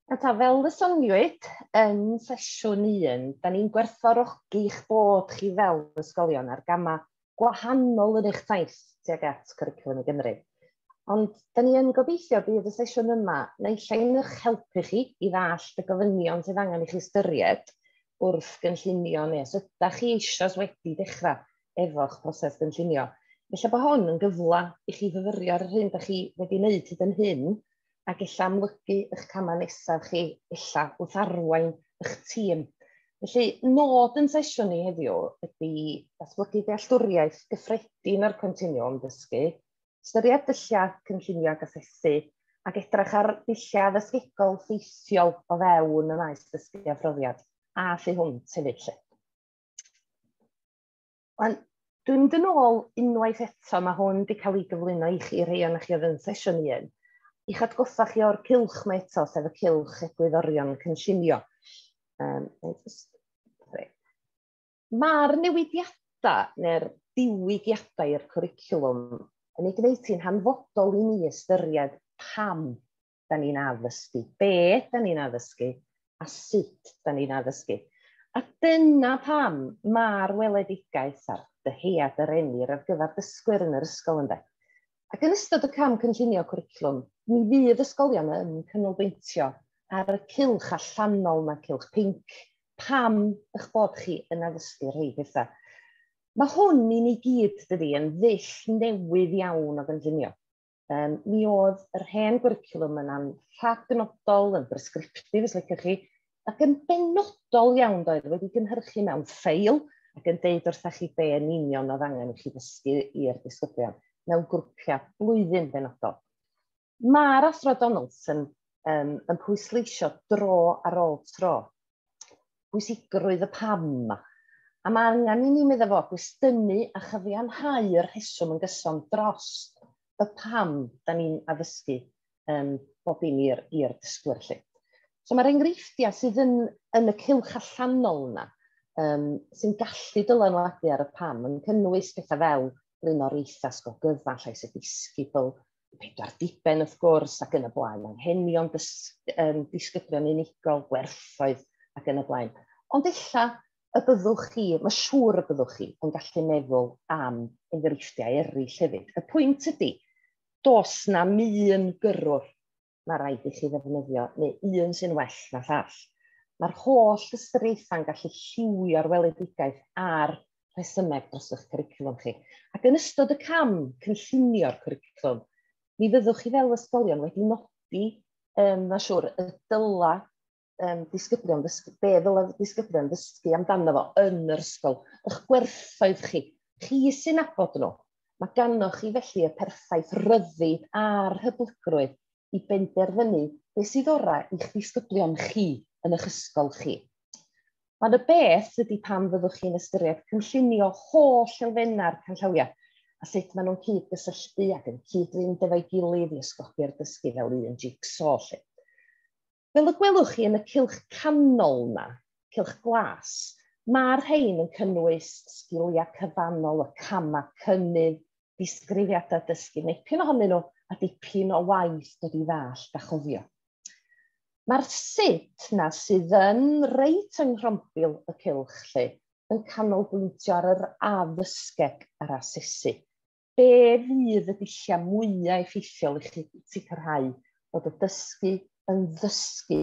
A ta, fel y soniwyd yn sesiwn 1, da ni'n gwerthfawrogi eich bod chi fel ysgolion ar gamau gwahanol yn eich taith tuag at Cwricwlwm i Gymru. Ond da ni yn gobeithio bydd y sesiwn yma naill ai'n eich helpu chi i ddall y gofynion sydd angen i chi ystyried, wrth gynllunio neu os ydych chi eisoes wedi dechrau efo'ch proses gynllunio, felly bod hwn yn gyfle i chi fyfyrio'r hyn ydych chi wedi wneud hyd yn hyn a ella amlygu eich camau nesaf chi, ella wrth arwain eich tîm. Felly, nod yn sesiwn ni heddiw ydy datblygu dealltwriaeth gyffredin o'r continwwm dysgu, ystyried dulliau cynllunio ac asesu, ac edrych ar ddulliau addysgegol ffeithiol o fewn y maes dysgu a phrofiad, a thu hwnt hefyd lle. Ond dwi'n mynd yn ôl unwaith eto, mae hwn wedi cael ei gyflwyno i chi rhai o'n chi oedd yn sesiwn i un. I'ch atgoffa chi o'r cilch mae eto, sef y cilch egwyddorion cynllunio. Um, Mae'r newidiadau neu'r diwygiadau i'r cwricwlwm yn ei gwneud hi'n hanfodol i ni ystyried pam da ni'n addysgu, be da ni'n addysgu a sut da ni'n addysgu. A dyna pam mae'r weledigaeth a'r dyhead yr emir ar gyfer dysgwyr yn yr ysgol ynde. Ac yn ystod y cam cynllunio cwricwlwm, mi fydd ysgolion yn canolbwyntio ar y cylch allanol yma, cylch pinc, pam eich bod chi yn addysgu rhai pethau. Mae hwn i ni gyd, dydy, yn ddull newydd iawn o gynllunio. Um, mi oedd yr hen gwricwlwm yn anrhadnodol, yn bresgriptif, os liciwch chi, ac yn benodol iawn doedd wedi gynhyrchu mewn ffeil ac yn deud wrthach chi be yn union oedd angen i chi ddysgu i'r disgyblion mewn grwpiau blwyddyn benodol. Mae'r Athro Donaldson um, yn pwysleisio dro ar ôl tro pwysigrwydd y pam yma. A mae angen i ni meddwl fo gwestiynu a chyfianhau'r rheswm yn gyson dros y pam da ni'n addysgu um, bob dim i'r dysgwyr lle. So mae'r enghreifftiau sydd yn, yn y cylch allanol yna, um, sy'n gallu dylanwadu ar y pam, yn cynnwys pethau fel blaenoriaethau sgogyfan, llais y disgybl, pedwar diben wrth gwrs, ac yn y blaen, anghenion dys, um, disgyblion unigol, gwerthoedd ac yn y blaen. Ond ella y byddwch chi, mae siŵr y byddwch chi, yn gallu meddwl am enghreifftiau eraill hefyd. Y pwynt ydy, Does na un gyrrwr mae rhaid i chi ddefnyddio, neu un sy'n well na llall. Mae'r holl ystyriaethau'n gallu lliwio'r weledigaeth a'r rhesymeg dros eich cwricwlwm chi. Ac yn ystod y cam cynllunio'r cwricwlwm, mi fyddwch chi fel ysgolion wedi nodi, um, mae'n siŵr, y dyla um, disgyblion ddysgu, be ddylai disgyblion ddysgu amdano fo yn yr ysgol, eich gwerthoedd chi, chi sy'n abod nhw. Mae ganoch chi felly y perffaith ryddid a'r hyblygrwydd i benderfynu beth sydd orau i'ch disgyblion chi yn eich ysgol chi. Ond y beth ydy pam fyddwch chi'n ystyried cynllunio holl elfennau'r canllawiau a sut maen nhw'n cyd-gysylltu ac yn cyd-fynd efo'i gilydd i ysgogi'r dysgu fel un jigsaw. Lle. Fel y gwelwch chi yn y cylch canol 'na, cylch glas, mae'r rhain yn cynnwys sgiliau cyfannol, y camau cynnydd, disgrifiadau dysgu, nepyn ohonyn nhw, a dipyn o waith dod i ddallt a chofio. Mae'r sut 'na sydd yn reit yng nghrombil y cylch lle, yn canolbwyntio ar yr addysgeg a'r asesu. Be fydd y dulliau mwyaf effeithiol i chi sicrhau bod y dysgu yn ddysgu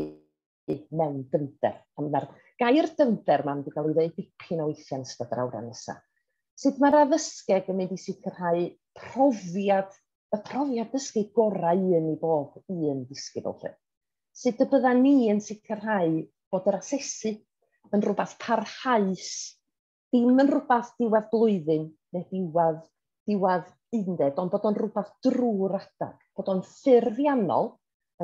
mewn dyfnder? Mae'r gair dyfnder mae'n wedi cael ei ddweud dipyn o weithiau yn ystod yr awran nesaf. Sut mae'r addysgeg yn mynd i sicrhau profiad, y profiad dysgu gorau un i bob un disgybl lle? Sut y bydda ni yn sicrhau bod yr asesu yn rhywbeth parhaus dim yn rhywbeth diwedd blwyddyn neu diwedd, diwedd undeb, ond bod o'n rhywbeth drwy'r adeg, bod o'n ffurfiannol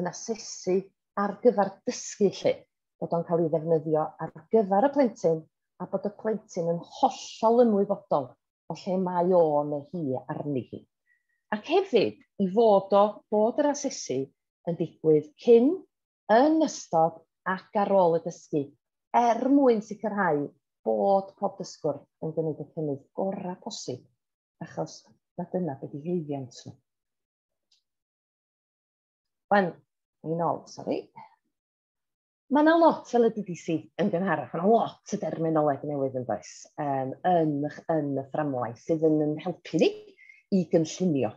yn asesu ar gyfer dysgu lle, bod o'n cael ei ddefnyddio ar gyfer y plentyn a bod y plentyn yn hollol ymwybodol o lle mae o neu hi arni hi. Ac hefyd, i fod o bod yr asesu yn digwydd cyn yn ystod ac ar ôl y dysgu er mwyn sicrhau bod pob dysgwr yn gwneud y cynnydd gorau posib, achos mae dyna beth i llwyddiant nhw. Wan, ni'n ôl, sori. Mae yna lot fel y DDC yn gynharach, mae yna lot o derminoleg newydd yn does, um, yn, yn y fframwaith sydd yn helpu ni i gynllunio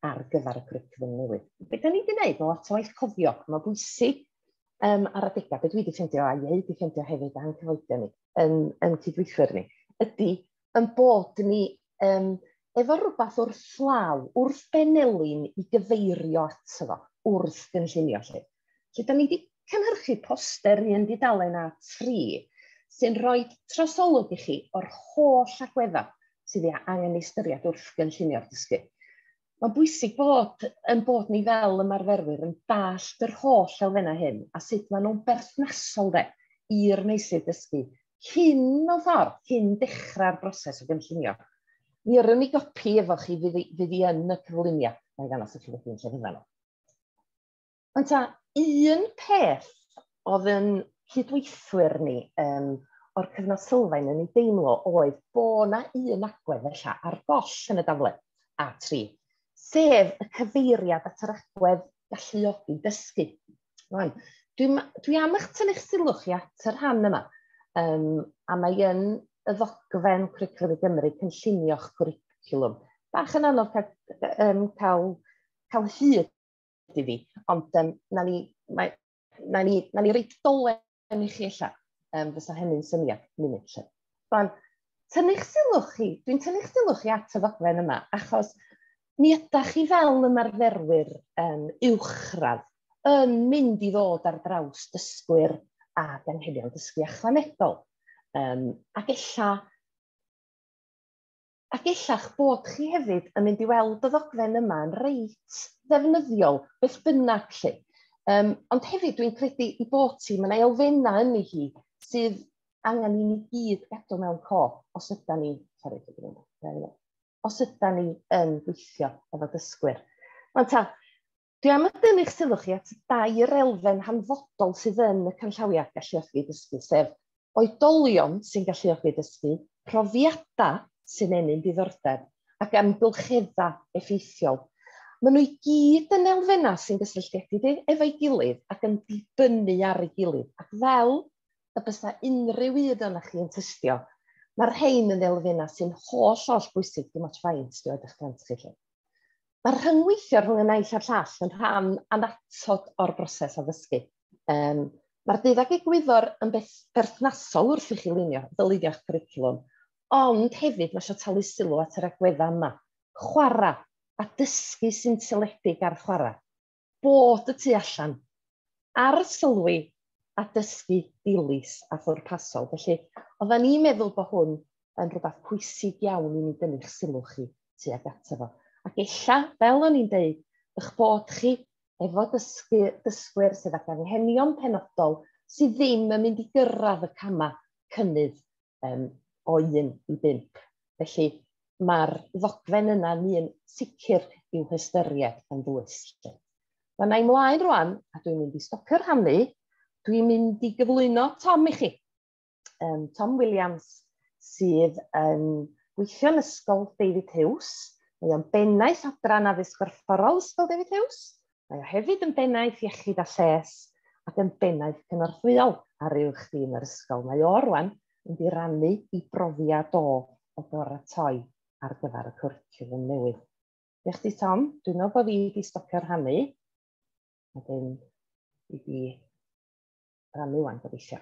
ar gyfer y cwricwlwm newydd. Be da ni wedi gwneud, lot o waith cofio, mae'n bwysig um, ar adegau, beth dwi wedi ffeindio, a ieu wedi ffeindio hefyd a'n cyfoedion ni, yn, yn cydweithwyr ni, ydy yn bod ni um, efo rhywbeth wrth law, wrth benelin i gyfeirio ato fo, wrth gynllunio lle. Felly, da ni wedi cynhyrchu poster un dudalen a tri sy'n rhoi trosolwg i chi o'r holl agweddau sydd ei angen ei ystyried wrth gynllunio'r dysgu. Mae'n bwysig bod yn bod ni fel ymarferwyr yn dallt yr holl elfennau hyn a sut maen nhw'n berthnasol de i'r meysydd dysgu cyn o ffordd, cyn dechrau'r broses o gynllunio. Mi yrwn ni gopi efo chi fydd i, fydd i yn y cyflwyniad, mae'n ddangos i chi wedyn lle fyddan nhw. Ond ta, un peth oedd yn cydweithwyr ni um, o'r cyfnod sylfaen yn ei deimlo oedd bod yna un agwedd felly ar goll yn y daflen A3, sef y cyfeiriad at yr agwedd galluogi dysgu. Rwan, dwi, dwi am eich tynnu'ch sylw chi at y rhan yma, um, a mae yn y ddogfen Cwricwlwm i Gymru cynllunio'ch cwricwlwm. Bach yn anodd cael, um, cael, cael hyd i fi. Ond um, na ni, mae, na ni, na ni reid dolen i chi allan. Um, fysa hynny'n syniad munud lle. Rwan, tynnu'ch sylw chi, dwi'n tynnu'ch sylw chi at y ddogfen yma, achos mi ydych chi fel ymarferwyr um, uwchradd yn mynd i ddod ar draws dysgwyr a anghenion dysgu ychwanegol. Um, ac ella A gella'ch bod chi hefyd yn mynd i weld y ddogfen yma yn reit ddefnyddiol, beth bynnag lle. Um, ond hefyd dwi'n credu i bod ti, mae'n elfennau yn hi sydd angen i ni gyd gadw mewn cof os yda ni, sori, os yda ni yn gweithio efo dysgwyr. Mae'n ta, Dwi am dynnu'ch sylw chi at dair elfen hanfodol sydd yn y canllawiau galluogi dysgu, sef oedolion sy'n galluogi dysgu, profiadau sy'n ennyn diddordeb, ac amgylcheddau effeithiol. Maen nhw i gyd yn elfennau sy'n gysylltiedig efo'i gilydd ac yn dibynnu ar ei gilydd, ac fel y bysa unrhyw un ohonoch chi yn tystio, mae'r rhain yn elfennau sy'n holl, holl bwysig, dim ots faint 'di oed eich plant chi 'lly. Mae'r rhyngweithio rhwng y naill a'r llall yn rhan annatod o'r broses addysgu. Um, Mae'r dydd ag egwyddor yn beth berthnasol wrth i chi lunio, ddylunio'ch cwricwlwm, ond hefyd mae eisiau talu sylw at yr agweddau yma. Chwarae a dysgu sy'n seledig ar chwarae. bod y tu allan, arsylwi a dysgu dilys a phwrpasol. Felly, oedden ni'n meddwl bod hwn yn rhywbeth pwysig iawn i ni dynnu'ch sylw chi tuag ato fo. Ac ella, fel o'n i'n deud, eich bod chi efo dysgu, dysgwyr sydd ag anghenion penodol sydd ddim yn mynd i gyrraedd y camau cynnydd um, o 1 i 5. Felly mae'r ddogfen yna yn un sicr i'w hystyried yn ddwys. Mae yna i mlaen rwan, a dwi'n mynd i stopio rhannu, dwi'n mynd i gyflwyno Tom i chi. Um, Tom Williams sydd yn gweithio yn Ysgol David Hughes. Mae o'n bennaeth adran addysg gorfforol Ysgol David Hughes Mae o hefyd yn bennaeth iechyd a lles ac yn bennaeth cynorthwyol ar uwch dîm yr ysgol. Mae o rwan yn di rannu i brofiad o o baratoi ar gyfer y cwricwlwm newydd. Diolch chdi Tom, dwi'n meddwl bod fi wedi stopio rhannu. Wedyn i di rannu wan gobeithio.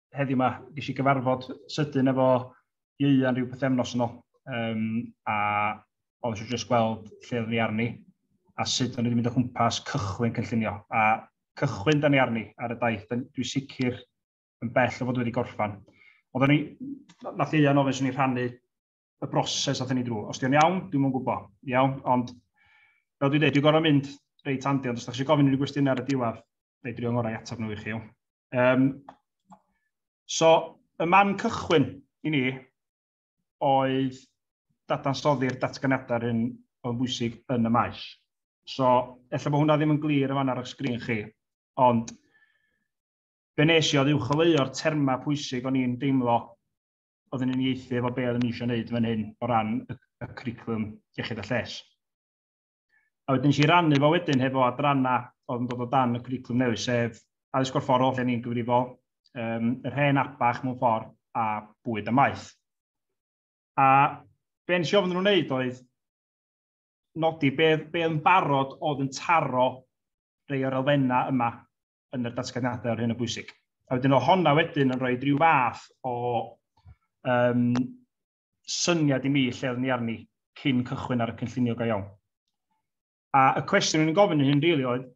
heddiw yma, ges i gyfarfod sydyn efo Ieuan rhyw pethefnos yn ôl, um, a oedd eisiau jyst gweld lle oedd ni arni, a sut o'n i wedi mynd o chwmpas cychwyn cynllunio. A cychwyn da ni arni ar y daith, dwi sicr yn bell o fod wedi gorffan. Ond o'n i, nath Ieuan ofyn sy'n ni rhannu y broses athyn ni drwy. Os di'n iawn, dwi'n mwyn gwybod. Iawn, ond fel dwi'n dweud, dwi'n gorau mynd reit handi, ond os da chi eisiau gofyn unrhyw gwestiynau ar y diwedd, fe dwi'n ngorau i ateb nhw i chi. Um, so, y man cychwyn i ni oedd dadansoddi'r datganiadau'r un o'n bwysig yn y maes. So, efallai bod hwnna ddim yn glir yn fan ar y sgrin chi, ond be nes i oedd uwcholeuo'r terma pwysig o'n i'n deimlo oedd yn unieithu efo be oedden ni eisiau gwneud fan hyn o ran y, y cwricwlwm iechyd a lles. A wedyn eisiau rannu fo wedyn hefo adrana oedd yn dod o dan y cwricwlwm newydd, sef addysg gorfforol lle ni'n gyfrifol, um, yr hen abach mewn ffordd a bwyd a maeth. A be nes i ofyn nhw'n wneud oedd nodi be, be yn barod oedd yn taro rei o'r elfennau yma yn y datganiadau o'r hyn o bwysig. A wedyn o honna wedyn yn rhoi rhyw fath o um, syniad i mi lle oedd ni arni cyn cychwyn ar y cynllunio go iawn. A y cwestiwn yn gofyn yn hyn rili really oedd,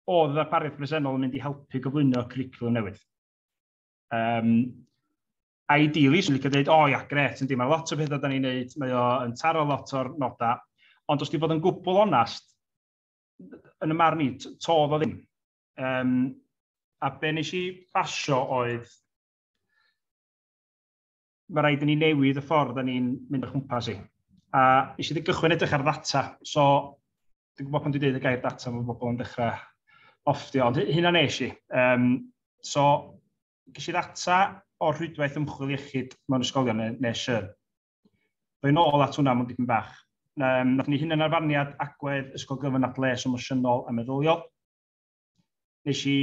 oedd y ddarpariaeth bresennol yn mynd i helpu gyflwyno curriculum newydd? Um, ideally, swn i'n licio dweud, o oh, ia, gret, yndi, mae lot o bethau da ni'n neud, mae o'n taro lot o'r nodau, ond os di bod yn gwbl onast, yn y marn i, to oedd o ddim. Um, a be nes i basio oedd mae rhaid i ni newid y ffordd da ni'n mynd o chwmpas i. A eisiau wedi gychwyn edrych ar ddata, so dwi'n gwybod pan dwi'n dweud y gair data mae bobl yn dechrau offtio, ond hynna nes i. Um, so, ges i ddata o'r rhwydwaith ymchwil iechyd mewn ysgolion nes y Rwy'n ôl at hwnna mewn dipyn bach. Um, nath ni hunanarfarniad agwedd ysgol gyfan at les emosiynol a meddyliol. Nes i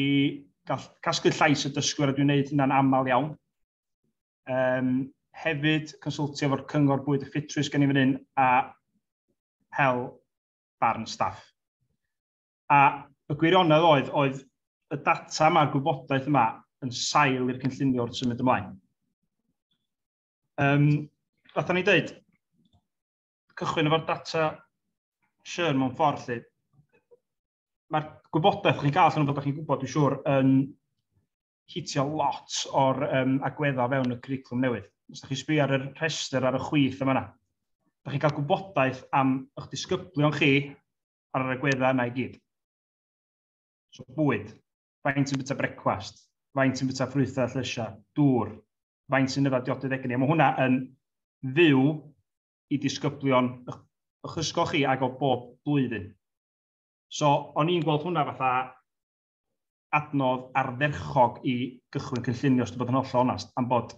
casglu llais y dysgwyr a dwi'n gwneud hynna'n aml iawn. Um, hefyd, consultio efo'r cyngor bwyd y ffitrwydd gen i fan hyn a hel barn staff. A y gwirionedd oedd, oedd y data mae'r gwybodaeth yma yn sail i'r cynllunio wrth symud ymlaen. Um, fath o'n i'n dweud, cychwyn efo'r data Sian mewn ffordd lle. Mae'r gwybodaeth chi'n cael, sy'n bod chi'n gwybod, dwi'n siŵr, yn hitio lot o'r um, agweddau fewn y curriculum newydd. Os ydych chi'n sbio ar y rhestr ar y chwith yma yna, ydych chi'n cael gwybodaeth am eich disgyblion chi ar yr agweddau yna i gyd. So bwyd, faint yn bita brecwast, faint yn bita ffrwythau llysiau, dŵr, faint sy'n yfed diodydd egni. A mae hwnna yn fyw i disgyblion o'ch ysgol chi ag o bob blwyddyn. So, o'n i'n gweld hwnna fatha adnodd arferchog i gychwyn cynllunio, os dwi'n bod yn holl onast, am bod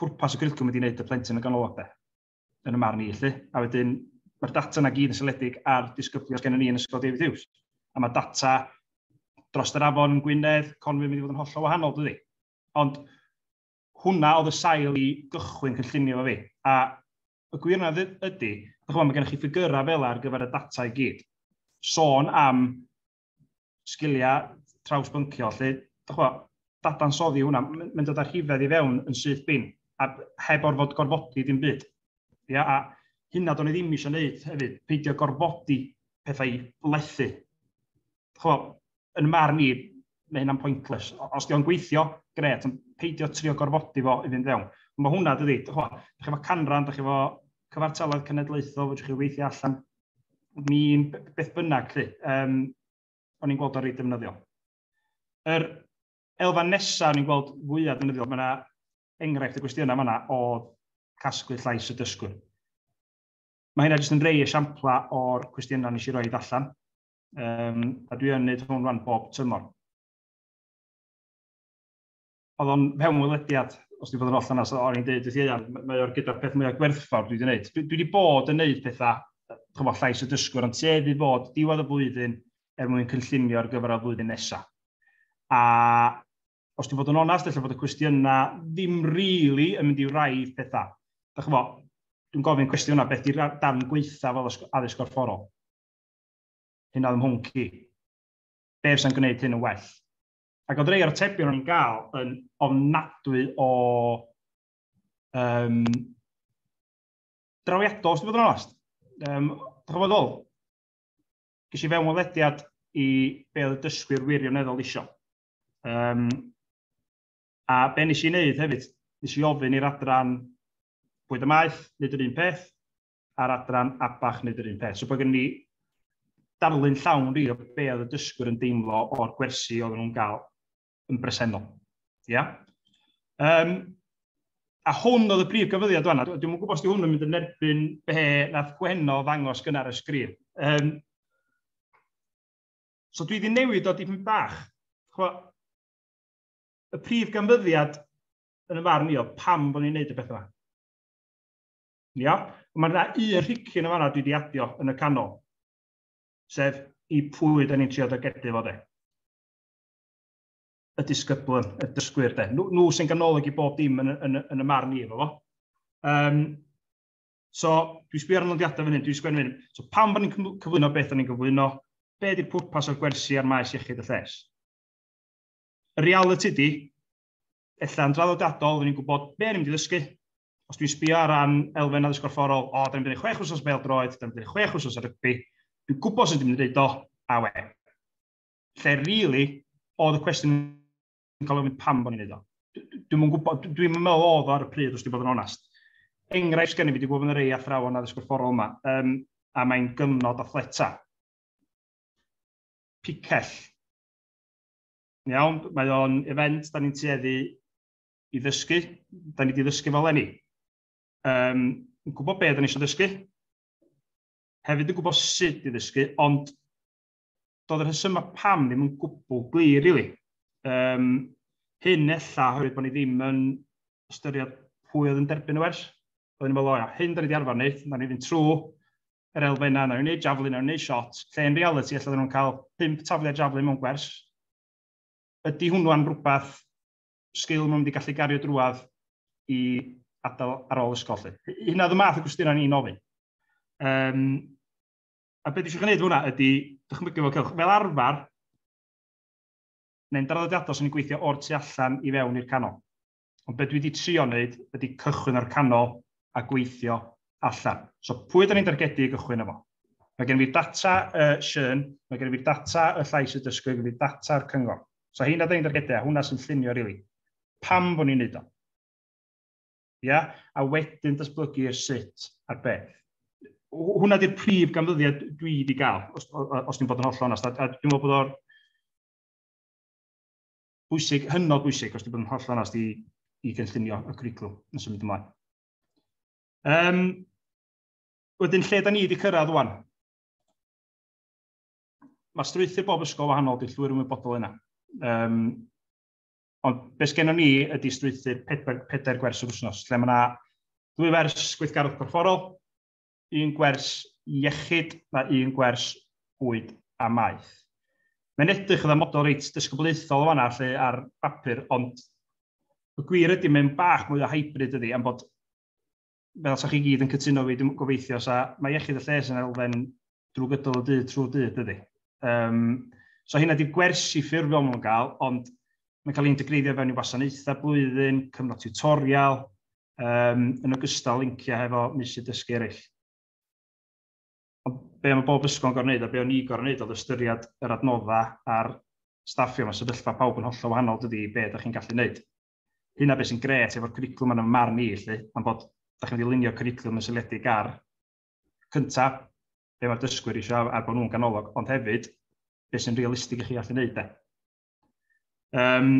pwrpas y cwricwlwm wedi wneud y plentyn yn ganolog de. yn y marn i, felly. A wedyn, mae'r data yna gyd yn seledig ar disgyblion gen ni yn Ysgol David Hughes. A mae data dros yr afon yn Gwynedd, Conwy yn mynd i fod yn hollol wahanol, dydy. Ond hwnna oedd y sail i gychwyn cynllunio fo fi. A y gwir yna ydy, mae gennych chi ffigurau fel ar gyfer y data i gyd. Sôn am sgiliau trawsbyncio, lle, dychwa, dadansoddi hwnna, mae'n dod â rhifedd i fewn yn syth bin, a heb orfod gorfodi dim byd. Ia, a hynna do'n i ddim eisiau gwneud hefyd, peidio gorfodi pethau i lethu. Chwa, yn marn i, mae hynna'n pointless. Os diolch yn gweithio, gret, ond peidio trio gorfodi fo i fynd fewn. Ond mae hwnna, dydy, chwa, da chi fo canran, da chi fo cyfartaledd cenedlaethol, fydwch chi weithio allan, mi beth bynnag, lle, um, o'n i'n gweld o'r reit defnyddiol. Yr elfan nesaf o'n i'n gweld fwyaf defnyddiol, mae yna enghraifft y gwestiynau yma o casglu llais y dysgwr. Mae hynna jyst yn rei esiamplau o'r cwestiynau nes i roi allan, um, a dwi yn gwneud hwn rhan bob tymor. oedd o'n fewnwelediad, os dwi'n bod yn oll yna, so o'n i'n dweud wrth Ieuan, mae o'r gyda'r peth mwyaf gwerthfawr dwi wedi gwneud. Dwi, wedi bod yn gwneud pethau, chyfo llais y dysgwr, ond sef i fod diwedd y flwyddyn er mwyn cynllunio ar gyfer y flwyddyn nesaf. A os dwi'n bod yn onast, efallai bod y cwestiynau ddim rili really yn mynd i'w raidd pethau. Da chyfo, dwi'n gofyn cwestiwn yna, beth di'r darn gweitha fel addysg gorfforol? Hyn oedd ymhwnc i. Be fysa'n gwneud hyn yn well? Ac oedd rei o'r atebion o'n i'n gael yn ofnadwy o um, drawiadol, os dwi'n bod yn onest. Um, Dwi'n bod ôl, gysi fewn o lediad i be oedd y dysgwyr wirioneddol isio. Um, a be nes i wneud hefyd, nes i ofyn i'r adran bwyd y maeth, nid yr un peth, a'r adran ABAC, nid yr un peth. So bod gen ni darlun llawn rhi o be oedd y dysgwyr yn deimlo o'r gwersi oedd nhw'n gael yn bresennol. Ia? Um, a hwn oedd y brif gyfyddiad yna. Dwi'n gwybod os di hwn yn mynd yn erbyn be nath Gwenno ddangos gynnar y sgrin. Um, so dwi wedi newid o dipyn bach. Chwa, y prif ganfyddiad yn y farn i oedd pam bod ni'n neud y beth yma. Ia? Mae yna un rhicyn yn fanna dwi wedi adio yn y canol, sef i pwy da ni'n trio dygedu fo de. Y disgyblwn, y dysgwyr de. Nhw, nhw sy'n ganolog i bob dim yn, yn, yn y marn i efo fo. Um, so, dwi'n sbio ar y nodiadau fan hyn, dwi'n sgwennu fan hyn. So, pam bod ni'n cyflwyno beth o'n ni'n gyflwyno, be ydy'r pwrpas o'r gwersi a'r maes iechyd y lles. Y reality di, efallai yn draddodiadol, ni'n gwybod be ni'n mynd i ddysgu, os dwi'n sbio ar ran elfen addysg gorfforol, o, da ni'n mynd i chwech wsos bel droed, da ni'n mynd i chwech wsos ar rygbi, dwi'n gwybod sut dwi'n mynd i ddeud o, a we. Lle rili, really, oedd y cwestiwn yn cael ei ofyn pam bod ni'n neud o. Dwi'n mwyn gwybod, dwi'n mwyn meddwl oedd ar y pryd, os dwi'n bod yn onast. Enghraifft gen i, fi wedi gwybod yn yr ei athrawon addysg gorfforol yma, um, a mae'n gyfnod athleta. Picell. Iawn, mae o'n event, da ni'n tueddu i ddysgu, da ni wedi ddysgu fel enni. Um, yn gwybod beth da ni eisiau ddysgu, hefyd yn gwybod sut i ddysgu, ond doedd yr hysymau pam ddim yn gwbl glir, really. Um, hyn ella, hefyd bod ni ddim yn ystyried pwy oedd yn derbyn y wers. Oedd ni'n meddwl, o ia, hyn da ni wedi arfer wneud, da ni ddim trwy yr elfennau, na ni'n gwneud javelin, na ni'n gwneud shot, lle yn reality, ella da nhw'n cael 5 tafliau javelin mewn gwers. Ydy hwnnw'n rhywbeth sgil maen nhw wedi gallu gario drwad i adael ar ôl ysgol. Lle. Hynna oedd y math o gwestiynau ni'n ofyn. Um, a beth eisiau gwneud hwnna ydy, dychmygu fel cewch, fel arfer, neu'n draddodiadol sy'n gweithio o'r tu allan i fewn i'r canol. Ond beth dwi wedi trio wneud ydy cychwyn o'r canol a gweithio allan. So pwy ydyn ni'n dargedu i gychwyn efo? Mae gen i fi data y uh, Sian, mae gen i fi data y llais y dysgu, gen i fi data'r cyngor. So hyn a dyn ni'n dargedu, a hwnna sy'n llunio rili. Really. Pam bod ni'n neud o? Ia? A wedyn datblygu yr sut a'r beth. Hwna di'r prif ganfyddiad dwi wedi gael, os, os ni'n bod yn holl onast. A, a dwi'n meddwl bod o'r bwysig, hynod bwysig, os ni'n bod yn holl onast i, i gynllunio y cwriclwm yn symud ymlaen. Um, wedyn, lle da ni wedi cyrraedd wan? mae strwythur bob ysgol wahanol, dwi'n llwyr ymwybodol yna. Um, ond beth gennym ni ydy strwythur pedair, pedair gwers yr wythnos, lle mae yna dwy wers gweithgarwch corfforol, un gwers iechyd a un gwers bwyd a maeth. Mae'n edrych yn model reit dysgyblaethol yma lle ar bapur, ond y gwir ydy mae'n bach mwy o hybrid ydy, am bod fel sa'ch chi gyd yn cytuno fi, dwi'n gobeithio, sa, mae iechyd y lles yn elfen drwy gydol y dydd trwy dydd, dydy. Um, so hynna di gwersi ffurfiol nhw'n gael, ond mae'n cael ei integreiddio fewn i wasanaethau blwyddyn, cyfnod tutorial, um, yn ogystal linciau hefo misydd dysgu eraill. Ond be mae bob ysgol yn gorau wneud a be o'n i gorau wneud oedd ystyried yr adnoddau a'r staffio, mae sefyllfa pawb yn hollol wahanol dydy be ydych chi'n gallu wneud. Hynna beth sy'n gret efo'r cwricwlwm yn fy marn i 'lly, am bod dach chi'n mynd i lunio cwricwlwm yn seiliedig ar, cynta', be' mae'r dysgwyr isio a bod nhw'n ganolog, ond hefyd, beth sy'n realistig i chi allu wneud 'de. Um,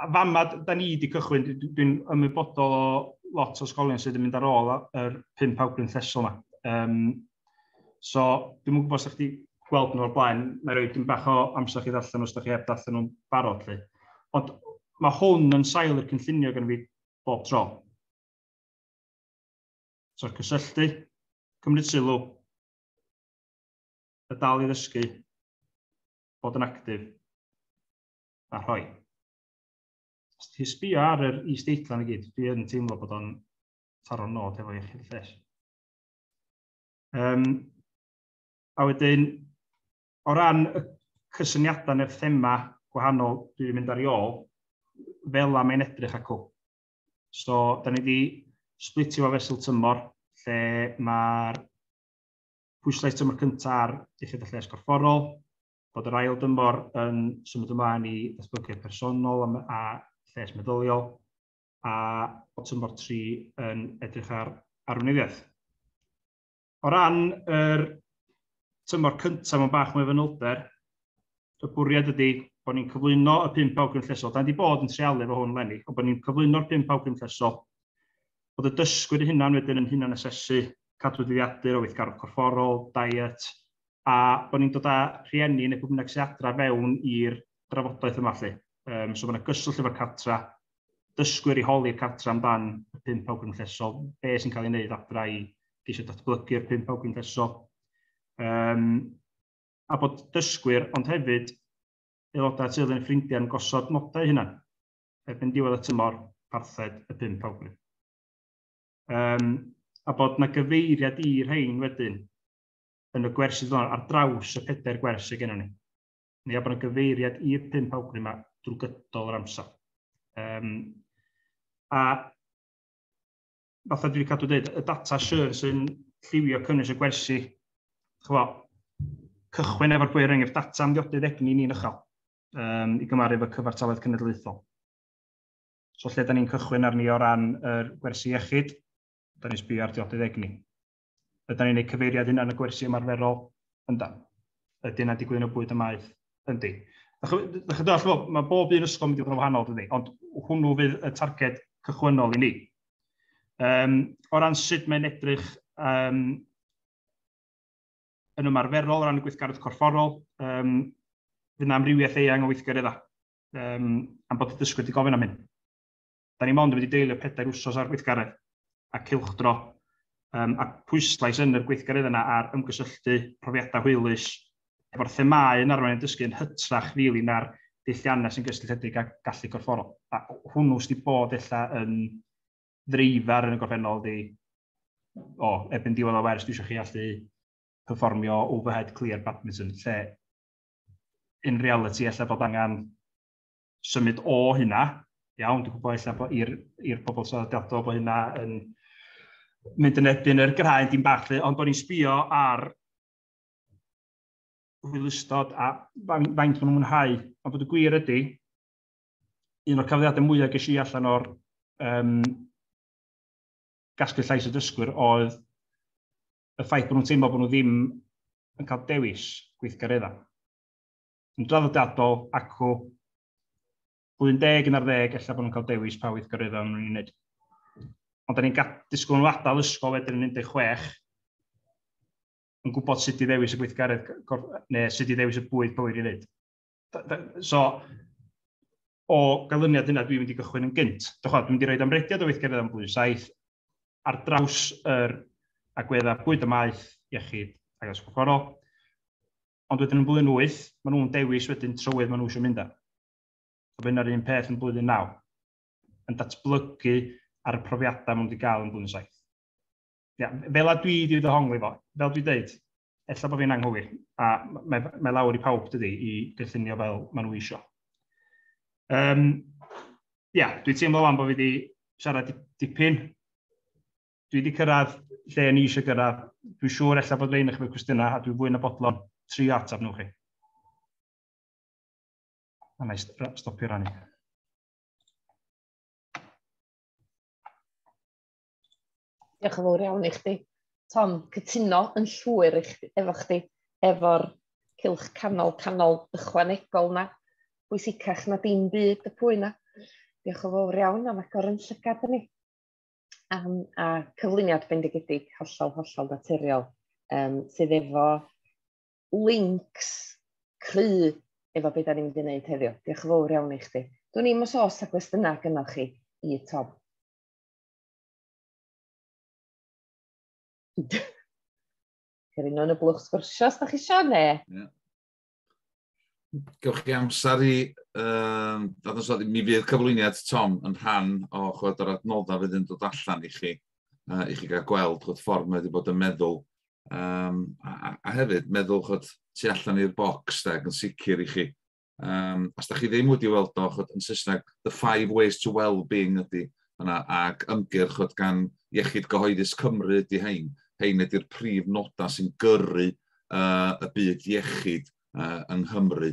a fama, da ni wedi cychwyn, dwi'n ymwybodol o lot o ysgolion sydd yn mynd ar ôl yr pum pawb yn llesol yma. Um, So, dwi'n mwyn gwybod os ydych chi gweld nhw o'r blaen, mae rhoi dim bach o amser chi ddarllen os ydych chi heb ddarllen nhw'n barod. Li. Ond mae hwn yn sail i'r cynllunio gan fi bob tro. So'r cysylltu, cymryd sylw, y dal i ddysgu, bod yn actif, a rhoi. Os ti sbio ar yr is-deitlan i gyd, dwi yn teimlo bod o'n taro'r nod efo i chi'r lles. Um, a wedyn, o ran y cysyniadau neu'r thema gwahanol dwi wedi mynd ar ei ôl, fel am ein edrych acw. So, da ni wedi splitio fo fesul tymor, lle mae'r pwyslais tymor cyntaf ar diffydd y lles gorfforol, bod yr ail dymor yn symud ymlaen i ddatblygiad personol a, a lles meddyliol, a bod tymor 3 yn edrych ar arweinyddiaeth. O ran yr tymor cyntaf mewn bach mwy o fanylder, y bwriad ydy bod ni'n cyflwyno y pimp awgrym llesol. Da ni wedi bod yn trealu efo hwn lenni, ond bod ni'n cyflwyno'r pimp awgrym llesol. Bod y dysgwyr hynna'n wedyn yn hynna'n asesu cadw dyddiadur o weithgarwch corfforol, diet, a bod ni'n dod â rhieni neu pwy bynnag sy'n adra fewn i'r drafodaeth yma lle. Um, so mae yna gyswllt efo'r cartra, dysgwyr i holi'r cartra amdan y pump awgrym gynllesol, be sy'n cael ei wneud adra i geisio datblygu'r pump awgrym gynllesol. Um, a bod dysgwyr, ond hefyd aelodau teulu yn ffrindiau yn gosod nodau hynna erbyn diwedd y tymor parthed y pump awgrym. Um, a bod na gyfeiriad i rhain wedyn yn y gwers sydd ar draws y pedair gwers sydd gennym ni. neu a bod yna gyfeiriad i'r pump awgrym yma drwy gydol yr amser. Um, a fatha dwi'n cadw dweud, y data siwr sy'n lliwio cynnwys y gwersi, chwa, cychwyn efo'r bwyr enghraifft data am ddiodydd egni ni'n ychel um, i gymaru efo cyfartaledd cenedlaethol. So lle da ni'n cychwyn arni o ran yr gwersi iechyd, da ni'n sbio ar diodydd egni. Ydan ni'n gwneud cyfeiriad hynna yn y gwersi ymarferol? Yndan. Ydy yna'n digwydd yn y bwyd y maeth? Yndi. Ydych chi'n dall, mae bob un ysgol yn mynd i fod yn wahanol, dydy, ond hwnnw fydd y targed cychwynnol i ni. Um, o ran sut mae'n edrych um, yn ymarferol o ran y gweithgaredd corfforol, um, fydd yna amrywiaeth eang o weithgareddau, um, am bod y dysgwyr wedi gofyn am hyn. Da ni mond yn mynd i deilio pedair wsos ar gweithgaredd a cylchdro, um, a pwyslais yn yr gweithgaredd yna ar ymgysylltu, profiadau hwylus, efo'r themau yn arwain yn dysgu yn hytrach rili really, na'r deilliannau sy'n gysylltiedig â gallu corfforol. A hwnnw sydd wedi bod ella yn ddreifar yn y gorffennol ydy, o, ebyn diwedd o wers, dwi eisiau chi allu performio overhead clear badminton, lle in reality ella bod angen symud o hynna, iawn, dwi'n gwybod eich bod i'r pobl traddodiadol bod hynna yn mynd yn ebyn yr graen dim bach, ond o'n i'n sbio ar hwylustod a faint maen nhw'n mwynhau. Ond bod y gwir ydy, un o'r cafliadau mwyaf ges i allan o'r um, gasglu llais y dysgwyr oedd y ffaith bod nhw'n teimlo bod nhw ddim yn cael dewis gweithgareddau. yn draddodiadol acw blwyddyn deg yn ar ddeg, efallai bod nhw'n cael dewis pa weithgaroedd o'n nhw'n wneud. Ond da ni'n disgwyl nhw adael ysgol wedyn yn 16, yn gwybod sut i ddewis y gweithgaredd, neu sut i ddewis y bwyd bywyd i wneud. So, o ganlyniad yna, dwi'n mynd i gychwyn yn gynt. Dwi'n mynd i roi amrediad o weithgaredd am blwyddyn 7 ar draws yr agweddau bwyd y maeth, iechyd ac ysgol corol. Ond wedyn yn blwyddyn 8, maen nhw'n dewis wedyn trywydd maen nhw eisiau mynd am. A bydd yna'r un peth yn blwyddyn 9, yn datblygu ar y profiadau maen nhw wedi cael yn blwyddyn 7. Ia, fel a dwi wedi ddohongli fo, fel dwi dweud, efallai bod fi'n anghywir, a mae, mae lawr i pawb dydy i gynllunio fel maen nhw eisiau. Um, ia, dwi teimlo fan bod fi wedi siarad dipyn, dwi wedi cyrraedd lle ni eisiau gyrraedd. Dwi'n siŵr efallai bod rhain eich mewn cwestiynau a dwi'n fwy na bodlon tri ateb nhw chi. A na i stopio rannu. Diolch yn fawr iawn i chdi. Tom, cytuno yn llwyr efo chdi, efo'r cilch canol canol ychwanegol na, bwysicach na dim byd y pwy na. Diolch yn fawr iawn am agor yn llygad i ni. um, a cyflwyniad bendigedig hollol, hollol naturiol, um, sydd efo links cry efo beth da ni'n mynd i wneud heddiw. Diolch yn fawr iawn i chdi. Dwi'n i'n mys os a gwestiynau gynnal chi i Tom. Cerin nhw'n y blwch sgwrsio os da chi eisiau, ne? Yeah. Gewch chi amser i um, ddadansoddi, mi fydd cyflwyniad Tom yn rhan o chwed o'r adnoddau fydd yn dod allan i chi, uh, i chi gael gweld chwed ffordd mae wedi bod yn meddwl. Um, a, a, hefyd, meddwl chwed tu allan i'r bocs, da, yn sicr i chi. Um, os da chi ddim wedi weld o, chwed, yn Saesneg, The Five Ways to Wellbeing ydy yna, ac ymgyrch chwed, gan Iechyd Gyhoeddus Cymru ydy hein. Hein ydy'r prif nodau sy'n gyrru uh, y byd iechyd uh, yng Nghymru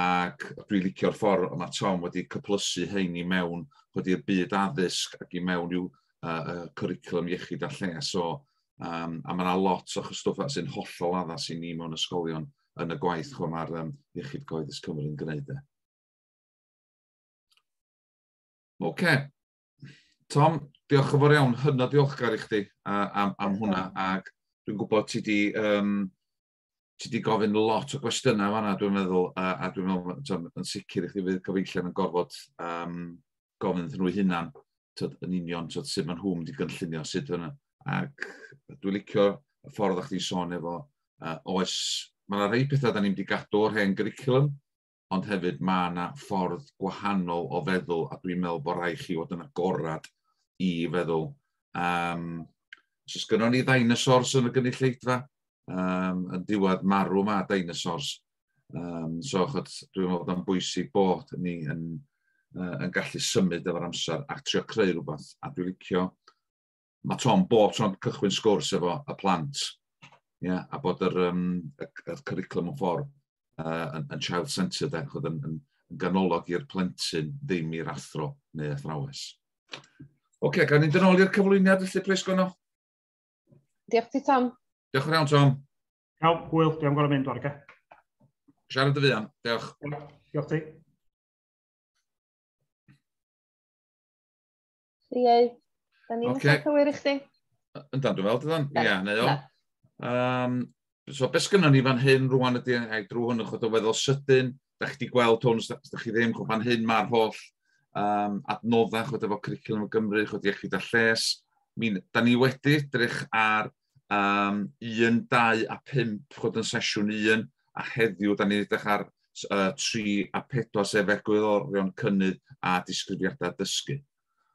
ac dwi'n licio'r ffordd yma Tom wedi cyplysu hyn i mewn wedi i'r byd addysg ac i mewn i'w uh, cwricwlwm iechyd a lles. So, um, a mae yna lot o chystwfa sy'n hollol addas i ni mewn ysgolion yn y gwaith chwa mae'r um, Iechyd Coeddus Cymru'n gwneud e. Oce, okay. Tom, diolch yn fawr iawn, hynod diolchgar i chdi am, am hwnna, ac dwi'n gwybod ti di, um, ti di gofyn lot o gwestiynau fanna, dwi'n meddwl, a, a dwi'n meddwl, tom, yn sicr i chdi fydd gyfeillion yn gorfod um, gofyn iddyn nhw hunan, tyd, yn union, tyd, sut maen nhw'n di gynllunio, sut fyna. Ac dwi'n licio y ffordd o'ch ti'n sôn efo, uh, oes, mae yna rhai pethau da ni'n di gadw o'r hen gyricilwm, ond hefyd mae yna ffordd gwahanol o feddwl a dwi'n meddwl bod rhaid chi fod yn agorad i feddwl. Um, Os gynno ni ddinosors yn y gynulleidfa, um, yn diwedd marw mae ddinosors. Um, so, chod, dwi'n meddwl bod o'n bwysig bod ni yn, uh, yn gallu symud efo'r amser a trio creu rhywbeth. A dwi'n licio mae Tom bob tro'n cychwyn sgwrs efo y plant, yeah, a bod yr, um, y, y curriculum yn ffordd uh, yn, yn child-centred, ac oedd yn, yn, yn ganolog i'r plentyn, ddim i'r athro neu athrawes. Oce, okay, gan ni'n dynol i'r cyflwyniad, felly, plis, Gwynno. Diolch ti, Tom. Diolch yn iawn, Tom. Iawn, hwyl, diolch yn gorau mynd, Warga. Siarad y fuan, diolch. Diolch ti. Ie, da ni'n okay. cael cywir i chdi. Yn dan, dwi'n fel, dydan? Ie, neu o. Um, so, beth sgynnon ni fan hyn rwan ydy, ai drwy hwn yn chod o feddwl sydyn, da chi wedi gweld hwn, da chi ddim, chod fan hyn mae'r holl um, adnoddau chod efo Cwricwlwm y Gymru, chod iechyd a lles. Mi, da ni wedi drych ar um, un, dau a pump, chod yn sesiwn un, a heddiw, da ni'n edrych ar uh, tri a pedwar, sef egwyddorion cynnydd a disgrifiadau dysgu.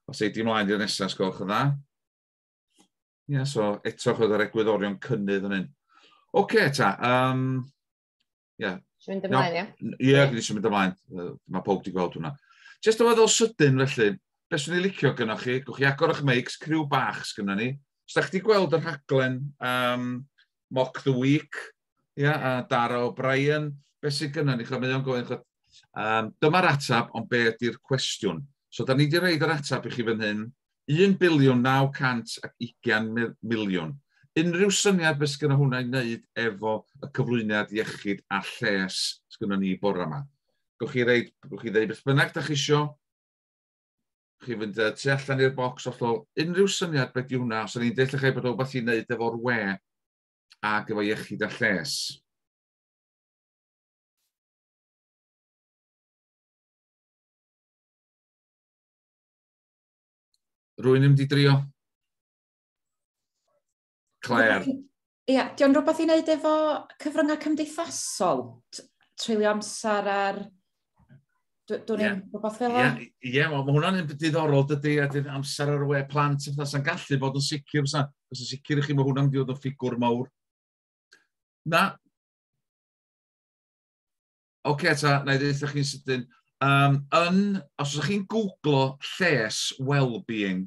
Os ei di mlaen i'r nesaf, sgolch yn dda. Ie, yeah, so eto chod yr egwyddorion cynnydd yn hyn. Oce, okay, ta. Um, Ie. Ti'n mynd ymlaen, ie? Ie, yeah, dwi eisiau mynd ymlaen. Mae pob di gweld hwnna. Just oedd o sydyn, felly, beth sy'n ei licio gynnwch chi? Gwch chi agor o'ch meics, criw bach sgynna ni. Os da chdi gweld yr haglen um, Mock the Week, ia, yeah, a Dara O'Brien, beth sy'n gynnwch ni? Mae o'n gofyn, um, dyma'r atab, ond be ydy'r cwestiwn? So, da ni wedi rhaid yr atab i chi fan hyn, Un biliwn 920 miliwn. Unrhyw syniad beth sgynno hwnna i wneud efo y cyflwyniad iechyd a lles sgynno ni bore yma? Gwch chi reid, gwch chi ddeud beth bynnag da chi isio, chi fynd uh, tu allan i'r bocs hollol, unrhyw syniad beth yw hwnna, os o'n i'n deall eich bod rhywbeth i wneud efo'r we ac efo iechyd a lles. Rwy'n ddim wedi drio. Claire. Ie, yeah, diolch rhywbeth i wneud efo cyfryngau cymdeithasol, treulio amser ar... Dwi'n yeah. rhywbeth fel yeah. Ie, yeah, mae hwnna'n un diddorol dydy, a dydd amser ar y we plant, a bethau sy'n gallu bod yn sicr, sa'n sicr i chi, mae hwnna'n mynd yn ffigwr mawr. Na, Oce, okay, ta, na i ddeitha chi'n sydyn. Um, yn, os ydych chi'n googlo lles well-being,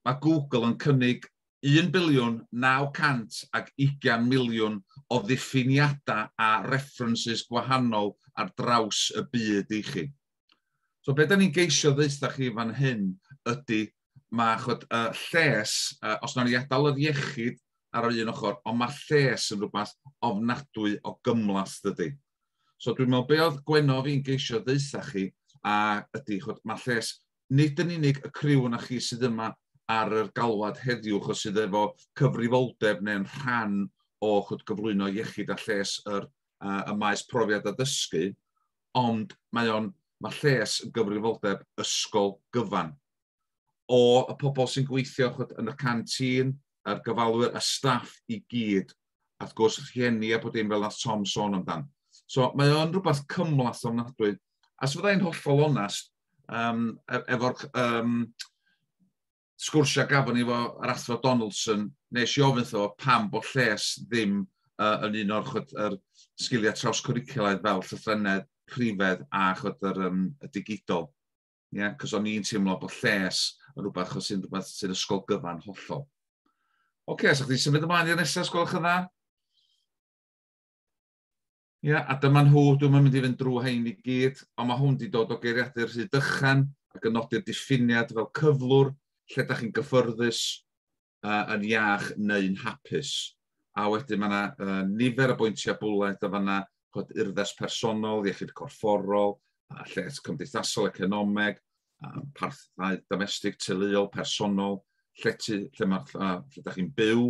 mae Google yn cynnig 1 biliwn 900 ag 20 miliwn o ddiffiniadau a references gwahanol ar draws y byd i chi. So beth da ni'n geisio ddeitha chi fan hyn ydy mae chod, uh, lles, uh, os nawn ni adael yr iechyd ar yr un ochr, ond mae lles yn rhywbeth ofnadwy o gymlath dydy. So dwi'n meddwl be oedd Gwenno fi'n geisio ddeitha chi a ydy, chod, mae lles nid yn unig y criw yna chi sydd yma ar yr galwad heddiw, chos sydd efo cyfrifoldeb neu'n rhan o chod gyflwyno iechyd a lles yr, uh, y maes profiad a dysgu, ond mae o'n mae lles yn gyfrifoldeb ysgol gyfan. o y pobl sy'n gweithio chod, yn y canteen, a'r gofalwyr, y staff i gyd, a wrth gwrs rhieni a bod dim fel nath Tom sôn amdan. So mae o'n rhywbeth cymlath ofnadwy. A sef fyddai'n hollol onest, um, e-, efo'r um, sgwrsiau gafon ni efo'r athro Donaldson, nes i ofyn tho pam bod lles ddim uh, yn un o'r chod, er, sgiliau trawscwricwlaidd fel llythrennedd, rhifedd a chod, er, um, y digidol. Yeah? Cos o'n i'n teimlo bod lles yn rhywbeth chos sy'n rhywbeth sy'n ysgol gyfan hollol. Oce, okay, so chdi symud ymlaen i'r nesaf, sgwelwch yn dda? Ie, yeah, a dyma nhw, dwi'n mynd i fynd drwy hyn i gyd, ond mae hwn wedi dod o geiriadur rhy dychan ac yn nodi'r diffiniad fel cyflwr, lle da chi'n gyffyrddus, uh, yn iach neu'n hapus. A wedyn mae yna uh, nifer o bwyntiau bwled o fanna, chod urddas personol, iechyd corfforol, uh, lles cymdeithasol, economeg, uh, parthau domestig, teuluol, personol, llety, lle mae'r uh, lle da chi'n byw,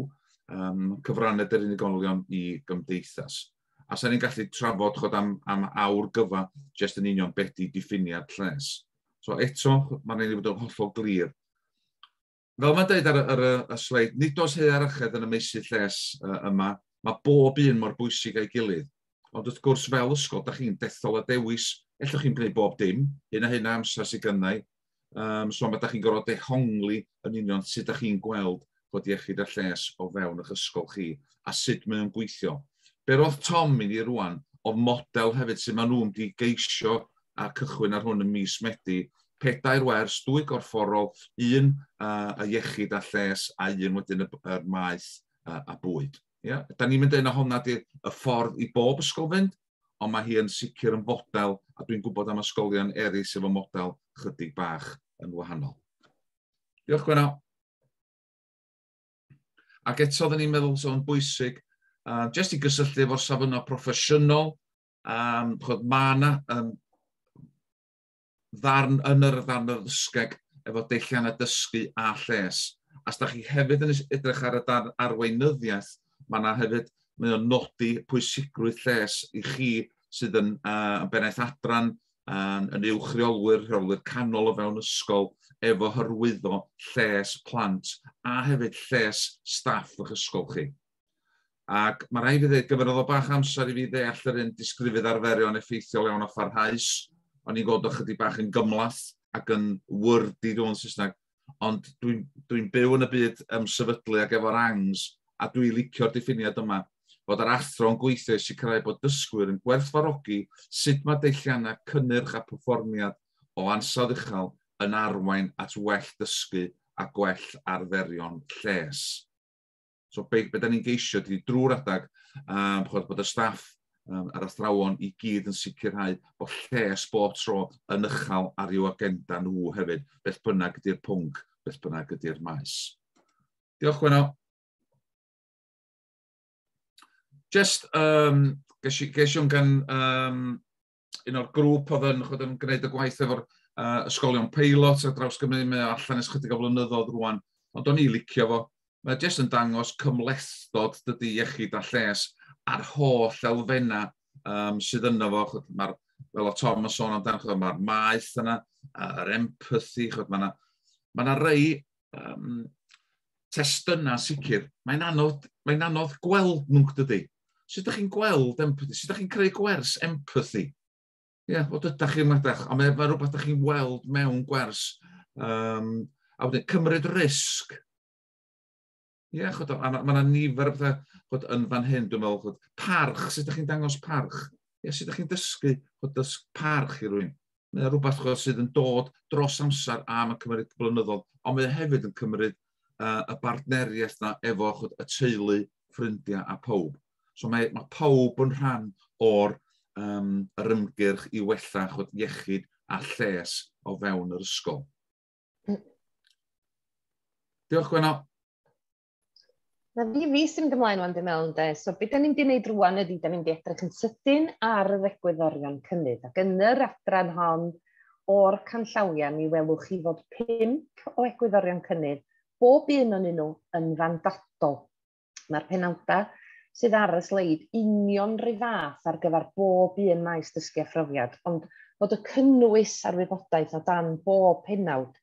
um, cyfraned yr unigolion i gymdeithas. A sa'n ni'n gallu trafod chod am, am awr gyfa jyst yn union beth di diffiniad lles. So eto, mae'n rhaid i fod yn hollol glir Fel mae'n dweud ar, y, ar y, y sleid, nid oes hea ar yched yn y meysydd lles uh, yma, mae bob un mor bwysig a'i gilydd. Ond wrth gwrs, fel ysgol, da chi'n dethol a dewis, ellwch chi'n gwneud bob dim, hyn a hyn a amser sydd gynnau. Um, so mae da chi'n gorfod dehongli yn union sut da chi'n gweld bod iechyd a lles o fewn eich ysgol chi a sut mae o'n gweithio. Be roedd Tom i ni rwan oedd model hefyd sydd maen nhw'n di geisio a cychwyn ar hwn ym mis Medi, pedair wers, dwy gorfforol, un y iechyd a lles a un wedyn y, y maeth a, a bwyd. Yeah? Da ni'n mynd dweud na honna di'r y ffordd i bob ysgol fynd, ond mae hi yn sicr yn fodel, a dwi'n gwybod am ysgolion eraill efo model chydig bach yn wahanol. Diolch Gwenno. Ac eto, oedden ni'n meddwl sôn bwysig, uh, jyst i gysylltu efo'r safonau proffesiynol, Um, chod, mae yna um, ddarn yn yr ddarn yr ddysgeg efo deillian a dysgu a lles. As da chi hefyd yn edrych ar y darn arweinyddiaeth, mae yna hefyd mae o'n nodi pwysigrwydd lles i chi sydd yn, uh, yn bennaeth adran, yn, yn uwch reolwyr, rheolwyr canol o fewn ysgol, efo hyrwyddo lles plant a hefyd lles staff o'ch ysgol chi. Ac mae rhaid fi ddweud, gyfynodd o bach amser i fi ddeall yr un disgrifydd arferion effeithiol iawn a pharhaus. O'n i'n gweld ychydig bach yn gymlath ac yn wordy dwi'n yn Saesneg. Ond dwi'n dwi byw yn y byd ymsefydlu ac efo'r angs a dwi'n licio'r diffiniad yma fod yr athro yn gweithio i sicrhau bod dysgwyr yn gwerthfarogi sut mae deilliannau cynnyrch a perfformiad o ansawdd uchel yn arwain at well dysgu a gwell arferion lles. So be, be da ni'n geisio ydy drwy'r adag um, chod, bod y staff um, a'r athrawon i gyd yn sicrhau bod lles bob tro yn ychal ar i'w agenda nhw hefyd, beth bynnag ydy'r pwnc, beth bynnag ydy'r maes. Diolch, Gwenno. Just, um, ges i, ges i gan um, un o'r grŵp oedd yn, oedd yn gwneud y gwaith efo'r uh, ysgolion peilot a draws Gymru, mae allan ys chydig o flynyddoedd rwan, ond o'n i licio fo. Mae jyst yn dangos cymlethdod dydy iechyd a lles a'r holl elfenna um, sydd yno fo. Mae'r, fel o Tom yn sôn amdano, mae'r maeth yna, yr empathy, mae yna ma rei um, testunau sicr, mae'n anodd, mae anodd gweld nhw, dydy. Sut ydych chi'n gweld empathy? Sut ydych chi'n creu gwers empathy? Ie, yeah, o dydych chi'n meddwl, ond mae, mae rhywbeth ydych chi'n weld mewn gwers. Um, a wedyn, cymryd risg. Ie, yeah, chod, mae yna nifer o bethau chod, yn fan hyn, dwi'n meddwl, chod, parch, sut ydych chi'n dangos parch? Ie, yeah, sut ydych chi'n dysgu chod, dysg parch i rwy'n? Mae yna rhywbeth chod, sydd yn dod dros amser a mae'n cymryd blynyddol, ond mae hefyd yn cymryd uh, y bartneriaeth yna efo chod, y teulu, ffrindiau a pawb. So mae, mae pawb yn rhan o'r um, yr ymgyrch i wella chod, iechyd a lles o fewn yr ysgol. Diolch, Gwenno. Na fi, fi sy'n mynd ymlaen o'n dim mewn de. So beth da ni'n di wneud rwan ydy, da ni'n di edrych yn sydyn ar yr egwyddorion cynnydd. Ac yn yr adran hon, o'r canllawiau, mi welwch chi fod pimp o egwyddorion cynnydd, bob un o'n nhw yn fandadol. Mae'r penawdau sydd ar y sleid union rhyw fath ar gyfer bob un maes dysgu a phrofiad, ond bod y cynnwys a'r wybodaeth o dan bob penawd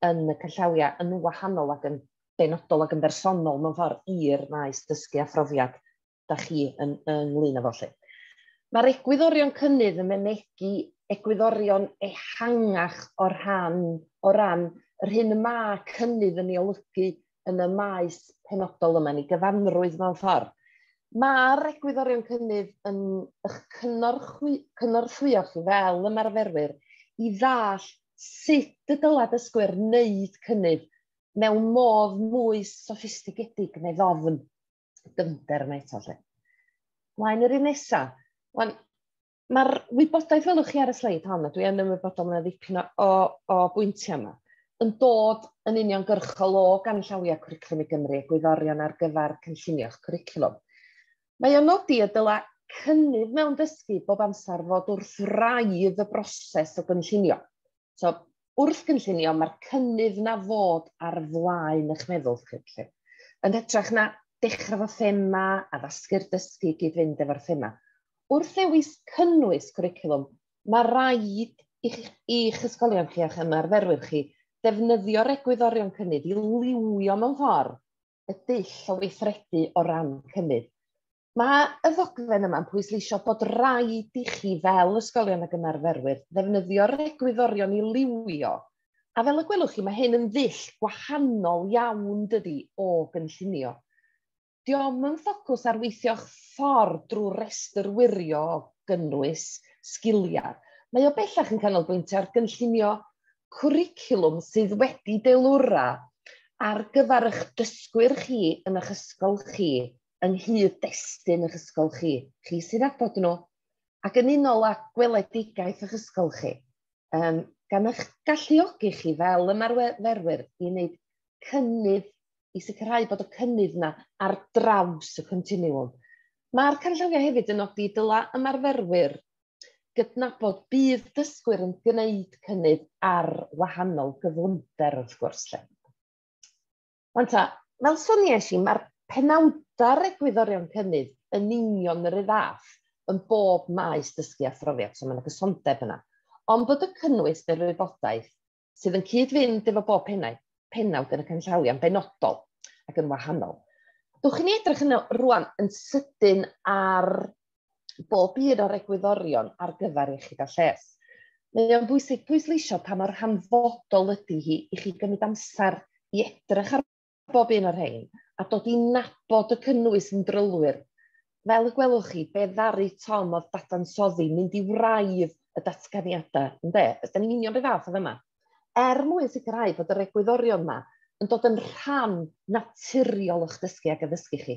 yn y canllawiau yn wahanol ac yn benodol ac yn bersonol mewn ffordd i'r maes dysgu a phrofiad da chi yn, ynglyn â fo lle. Mae'r egwyddorion cynnydd yn mynegi egwyddorion ehangach o'r rhan, o ran yr hyn y mae cynnydd yn ei olygu yn y maes penodol yma, yn ei gyfanrwydd mewn ffordd. Mae'r egwyddorion cynnydd yn eich cynorthwy, cynorthwyo chi fel ymarferwyr i ddall sut y dylai dysgwyr wneud cynnydd mewn modd mwy soffistigedig neu ddofn. Dyfnder yma eto, lle. Mlaen yr un nesaf. Wan, Mae'r wybodaeth welwch chi ar y sleid hon, a dwi yn ymwybodol mae ddipyn o, o, o bwyntiau yma, yn dod yn union gyrchol o ganllawiau cwricwlwm i Gymru a gwyddorion ar gyfer cynllunio'ch cwricwlwm. Mae o'n nodi y dyla cynnydd mewn dysgu bob amser fod wrth raidd y broses o gynllunio. So, wrth gynllunio, mae'r cynnydd na fod ar flaen eich meddwl chi. Lle. Yn hytrach na dechrau fo thema a ddasgu'r dysgu i gyd-fynd efo'r thema. Wrth ddewis cynnwys cwricwlwm, mae rhaid i'ch, eich ysgolion chi a'ch ymarferwyr chi ddefnyddio'r egwyddorion cynnydd i liwio mewn ffordd y dull o weithredu o ran cynnydd. Mae y ddogfen yma'n pwysleisio bod rhaid i chi fel ysgolion ac ymarferwyr ddefnyddio'r egwyddorion i liwio. A fel y gwelwch chi, mae hyn yn ddull gwahanol iawn dydy o gynllunio. Diolch yn ffocws ar weithio'ch ffordd drwy restr wirio o gynnwys sgiliau. Mae o bellach yn canolbwyntio ar gynllunio cwricwlwm sydd wedi deilwra ar gyfer eich dysgwyr chi yn eich ysgol chi yng nghyd-destun eich ysgol chi, chi sydd â bod nhw, ac yn unol â gweledigaeth eich ysgol chi, um, gan eich galluogi chi fel ymarferwyr i wneud cynnydd, i sicrhau bod y cynnydd yna ar draws y continiwm. Mae'r canllawiau hefyd yn nodi dyla ymarferwyr gydnabod bydd dysgwyr yn gwneud cynnydd ar wahanol gyflymder wrth gwrs. Lle. Ond ta, fel soniais i, mae'r penawdau'r egwyddorion cynnydd yn union yr un fath yn bob maes dysgu a phrofiad, so mae yna gysondeb yna. Ond bod y cynnwys neu'r wybodaeth sydd yn cyd-fynd efo bob pennau, penawd yn y canllawiau'n benodol ac yn wahanol. Dwch i ni edrych yno rwan yn sydyn ar bob un o'r egwyddorion ar gyfer iechyd a lles. Mae o'n bwysig pwysleisio pa mor hanfodol ydy hi i chi gymryd amser i edrych ar bob un o'r rhain a dod i nabod y cynnwys yn drylwyr. Fel y gwelwch chi, be ddaru Tom oedd dadansoddi mynd i wraidd y datganiadau, ynddo? Ydy'n union beth fath o fyma. Er mwyn sicrhau bod yr egwyddorion yma yn dod yn rhan naturiol o'ch dysgu ac addysgu chi,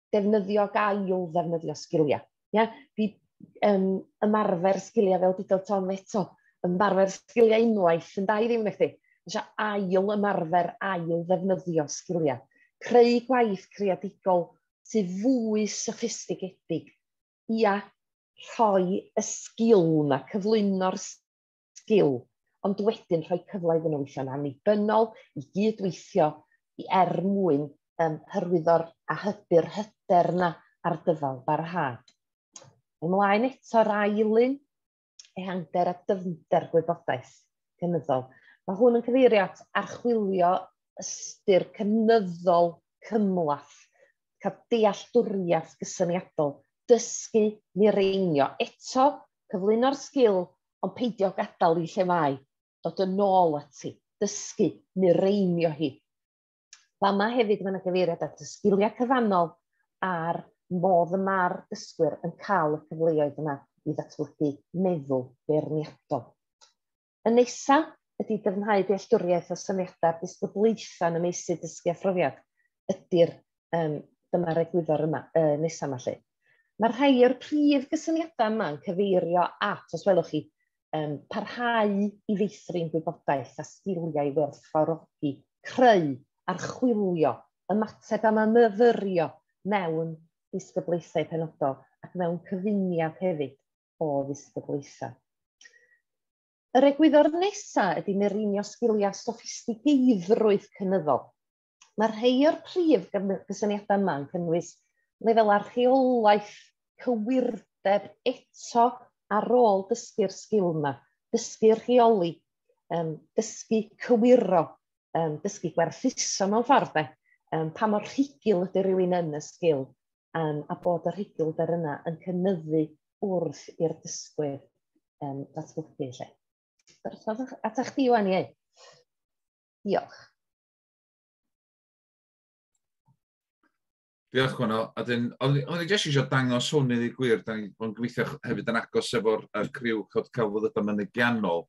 defnyddio, gael ddefnyddio sgiliau. Ia? Di, um, ymarfer sgiliau fel dydol ton eto, ymarfer sgiliau unwaith yn dau ddim nechdi. Eisiau ail ymarfer, ail ddefnyddio sgiliau. Creu gwaith creadigol sydd fwy soffistigedig. Ia, rhoi y sgil yma, cyflwyno'r sgil, ond wedyn rhoi cyfle iddyn nhw weithio'n annibynnol, i gydweithio i er mwyn um, hyrwyddo'r a hybu'r hyder yna ar dyfal barhad. Ymlaen eto'r ail un, ehangder a dyfnder gwybodaeth cynyddol. Mae hwn yn cyfeirio at archwilio ystyr cynyddol cymlath, cael dealltwriaeth gysyniadol, dysgu, mireinio. Eto, cyflwyno'r sgil ond peidio gadael hi lle mae, dod yn ôl ati, dysgu, mireimio hi. Fama hefyd mae yna gyfeiriad at y sgiliau cyfannol a'r modd y mae'r dysgwyr yn cael y cyfleoedd yna i ddatblygu meddwl beirniadol. Y nesaf ydy dyfnhau dealltwriaeth o syniadau'r disgyblaethau yn y meysydd dysgu a phrofiad ydy'r um, dyma'r egwyddor yma, uh, nesaf yma lle. Mae rhai o'r prif gysyniadau yma'n cyfeirio at, os welwch chi, um, parhau i feithrin gwybodaeth a sgiliau i werthfawrogi, creu, archwilio, ymateb a myfyrio mewn disgyblaethau penodol ac mewn cyfuniad hefyd o ddisgyblaethau. Yr egwyddor nesaf ydy mireinio sgiliau soffistigeiddrwydd cynyddol. Mae rhai o'r prif gysyniadau yma yn cynnwys lefel archeolaeth, cywirdeb eto ar ôl dysgu'r sgil yma, dysgu rheoli, um, dysgu cywiro, um, dysgu gwerthuso mewn ffordd de, um, pa mor rhugl ydy rhywun yn y sgil, um, a bod yr rhugl der yna yn cynnyddu wrth i'r dysgwyr um, ddatblygu lle. Dyrchodd atach chdi, Iwan, iei. Diolch. Diolch, Gwenno. A dyn, o'n i jyst eisiau dangos hwn i ddi gwir, da ni'n bod yn gweithio hefyd yn agos efo'r criw cod celfyddydau mynygiannol,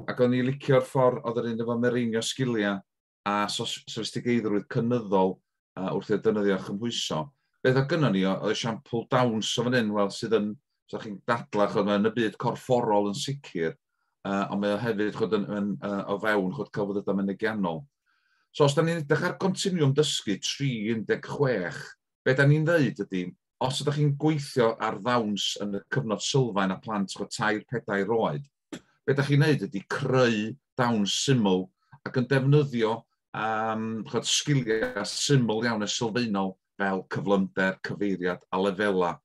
ac o'n i licio'r ffordd oedd yr un efo mereinio sgiliau a sofistigeiddrwydd cynyddol uh, wrth i'r dynyddio chymhwyso. Beth o gynnon ni, oedd esiampl dawns o fan hyn, wel, sydd yn So chi'n dadlau chod, yn y byd corfforol yn sicr, uh, ond mae o hefyd chod, yn, yn, uh, o fewn chod, celfyddydau mynegiannol. So os da ni'n edrych ar continwm dysgu 316, be da ni'n ddeud ydy, os ydych chi'n gweithio ar ddawns yn y cyfnod sylfaen a plant chod tair pedair oed, be da chi'n neud ydy creu dawns syml ac yn defnyddio um, chod, sgiliau syml iawn a sylfaenol fel cyflymder, cyfeiriad a lefelau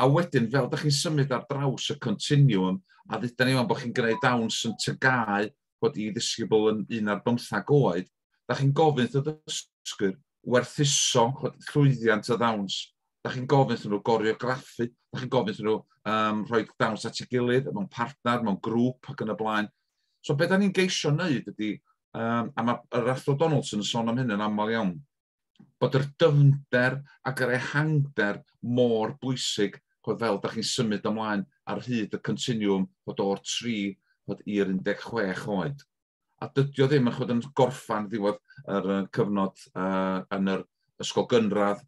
A wedyn, fel da chi'n symud ar draws y continuum, a ddyda ni o'n bod chi'n gwneud dawns yn tygau bod i ddisgybl yn un ar bymthag oed, da chi'n gofyn wrth y ddysgwyr werthuso llwyddiant y ddawns, da chi'n gofyn wrth nhw goreograffu, da chi'n gofyn wrth nhw um, rhoi dawns at ei gilydd, mewn partner, mewn grŵp ac yn y blaen. So beth da ni'n geisio wneud ydy, um, a mae'r Athro Donaldson yn sôn am hyn yn aml iawn, bod yr dyfnder ac yr ehangder mor bwysig ch'od fel dach chi'n symud ymlaen ar hyd y continwwm ch'od o'r tri ch'od i'r 16 oed. A dydi o ddim yn ch'od yn gorffan ddiwedd yr yy cyfnod yy yn yr ysgol gynradd,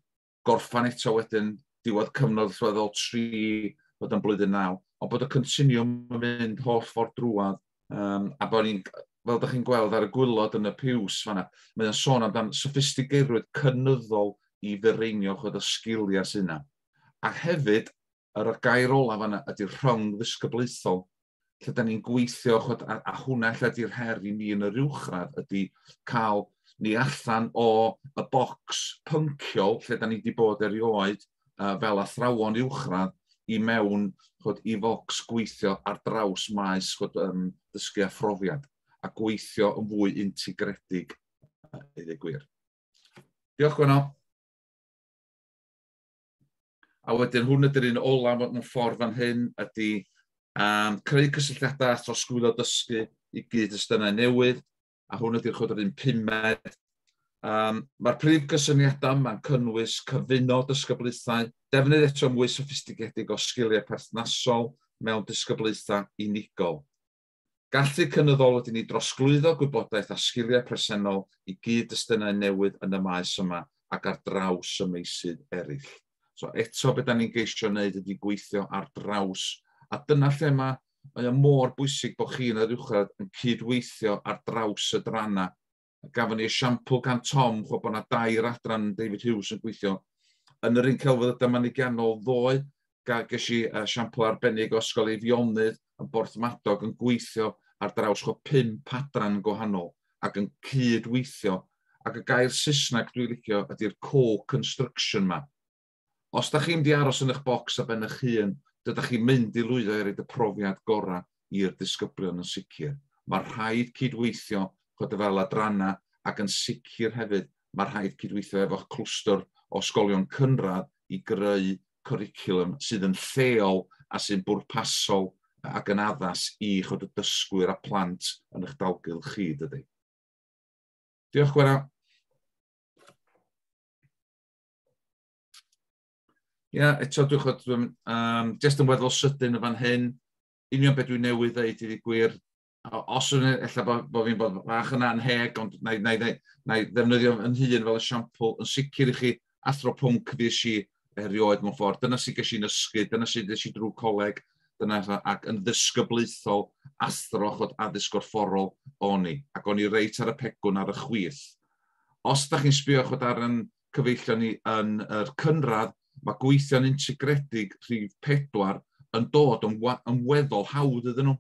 gorffan eto wedyn diwedd cyfnod allweddol tri ch'od yn blwyddyn naw, ond bod y continwwm yn mynd holl ffordd drwadd Um, a bod ni'n, fel ydych chi'n gweld ar y gwylod yn y piws fanna, mae o'n sôn amdan sophistigeirwyd cynyddol i ddyreinio chod y sgiliau sy'n yna. A hefyd, yr y gair olaf fanna ydy'r rhwng ddisgyblaethol, lle da ni'n gweithio, chod, a, a hwnna lle ydy'r her i ni yn yr uwchradd, ydy cael ni allan o y bocs pynciol lle da ni wedi bod erioed, uh, fel athrawon uwchradd i mewn chod, i focs gweithio ar draws maes chod, um, dysgu a phrofiad a gweithio yn fwy integredig uh, i ddweud gwir. Diolch Gwenno. A wedyn hwn ydy'r un ola mewn ffordd fan hyn ydy um, creu cysylltiadau a throsglwyddo dysgu i gyd ystynau newydd, a hwn ydy'r chwydr un pumed. Um, Mae'r prif gysyniadau mae'n cynnwys cyfuno dysgyblaethau, defnydd eto mwy soffistigedig o sgiliau perthnasol mewn dysgyblaethau unigol. Gallu cynyddol ydy ni drosglwyddo gwybodaeth a sgiliau presennol i gyd-destunau newydd yn y maes yma ac ar draws y meysydd eraill. So eto beth da ni'n geisio wneud ydy gweithio ar draws. A dyna lle mae, mae o mor bwysig bod chi yn yr uwchradd yn cydweithio ar draws y dranna. Gafon ni esiampl gan Tom, chwa bod yna dair adran David Hughes yn gweithio. Yn yr un celfyddydau manigiannol ddoe, ges i esiampl arbennig o Ysgol Eifionydd, yn Borthmadog yn gweithio ar draws chwa pump adran gwahanol ac yn cyd-weithio ac y gair Saesneg dwi'n licio ydy'r co-construction ma. Os da chi'n mynd i aros yn eich bocs a ben eich hun, dydach chi'n mynd i lwyddo i roed y profiad gorau i'r disgyblion yn sicr. Mae rhaid cyd-weithio chod y fel adrannau ac yn sicr hefyd mae rhaid cyd-weithio efo'ch clwstwr o sgolion cynradd i greu cwricwlwm sydd yn lleol a sy'n bwrpasol ac yn addas i chibod y dysgwyr a plant yn eich dalgylch chi, dydy. Diolch, Gwera. Ie, yeah, eto dwi'n chod, dwi'n um, just yn weddol sydyn yn fan hyn, union beth dwi'n newydd ddeud i gwir, os yw'n efallai bod, bod fi'n bod fach yn anheg, ond na i, na i, na i, na i ddefnyddio yn hun fel esiampl, yn sicr i chi athro pwnc fi si erioed mewn ffordd. Dyna sy'n ges i'n ysgu, dyna sy'n ges i drwy coleg, dyna, ac yn ddysgyblaethol athro chod addysg gorfforol o'n i, ac o'n i reit ar y pegwn ar y chwith. Os da chi'n sbio chod ar yn cyfeillion ni yn yr cynradd, mae gweithio'n integredig rhif pedwar yn dod yn, yn weddol hawdd iddyn nhw.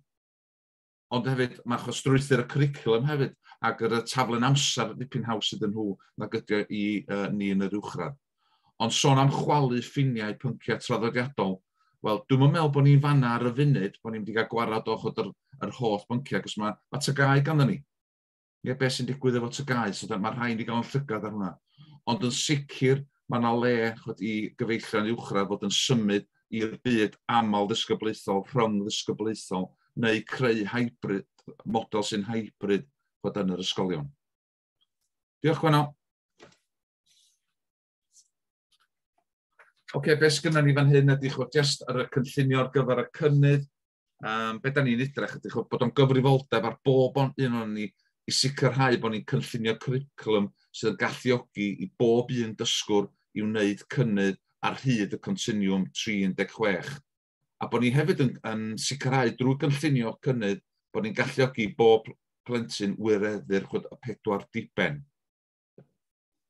Ond hefyd, mae achos strwythyr y cwricwlwm hefyd, ac yr y taflen amser ddipyn haws iddyn nhw nag ydy o i uh, ni yn yr uwchradd. Ond sôn am chwalu ffiniau pynciau traddodiadol, wel, dwi'n meddwl bod ni'n fanna ar y funud, bod ni'n mynd i gael gwarad o'ch o'r yr holl bynciau, cos mae, mae tygau ganddo ni. neu beth sy'n digwydd efo tygau, so mae'r rhain wedi cael yn llygad ar hwnna. Ond yn sicr, mae yna le chod, i gyfeillion uwchradd fod yn symud i'r byd aml ddisgyblaethol, rhwng ddisgyblaethol, neu creu hybrid, model sy'n hybrid fod yn yr ysgolion. Diolch, Gwenno. Oce, okay, beth sgynna ni fan hyn ydy chwbl jyst ar y cynllunio ar gyfer y cynnydd, um, beth da ni'n edrych ydy, bod o'n gyfrifoldeb ar bob o'n un o'n ni i sicrhau bod ni'n cynllunio cwricwlwm sydd yn galluogi i bob un dysgwr i wneud cynnydd ar hyd y continwm 36. A bod ni hefyd yn, yn sicrhau drwy gynllunio cynnydd bod ni'n galluogi bob plentyn wireddu'r chwyd y pedwar diben.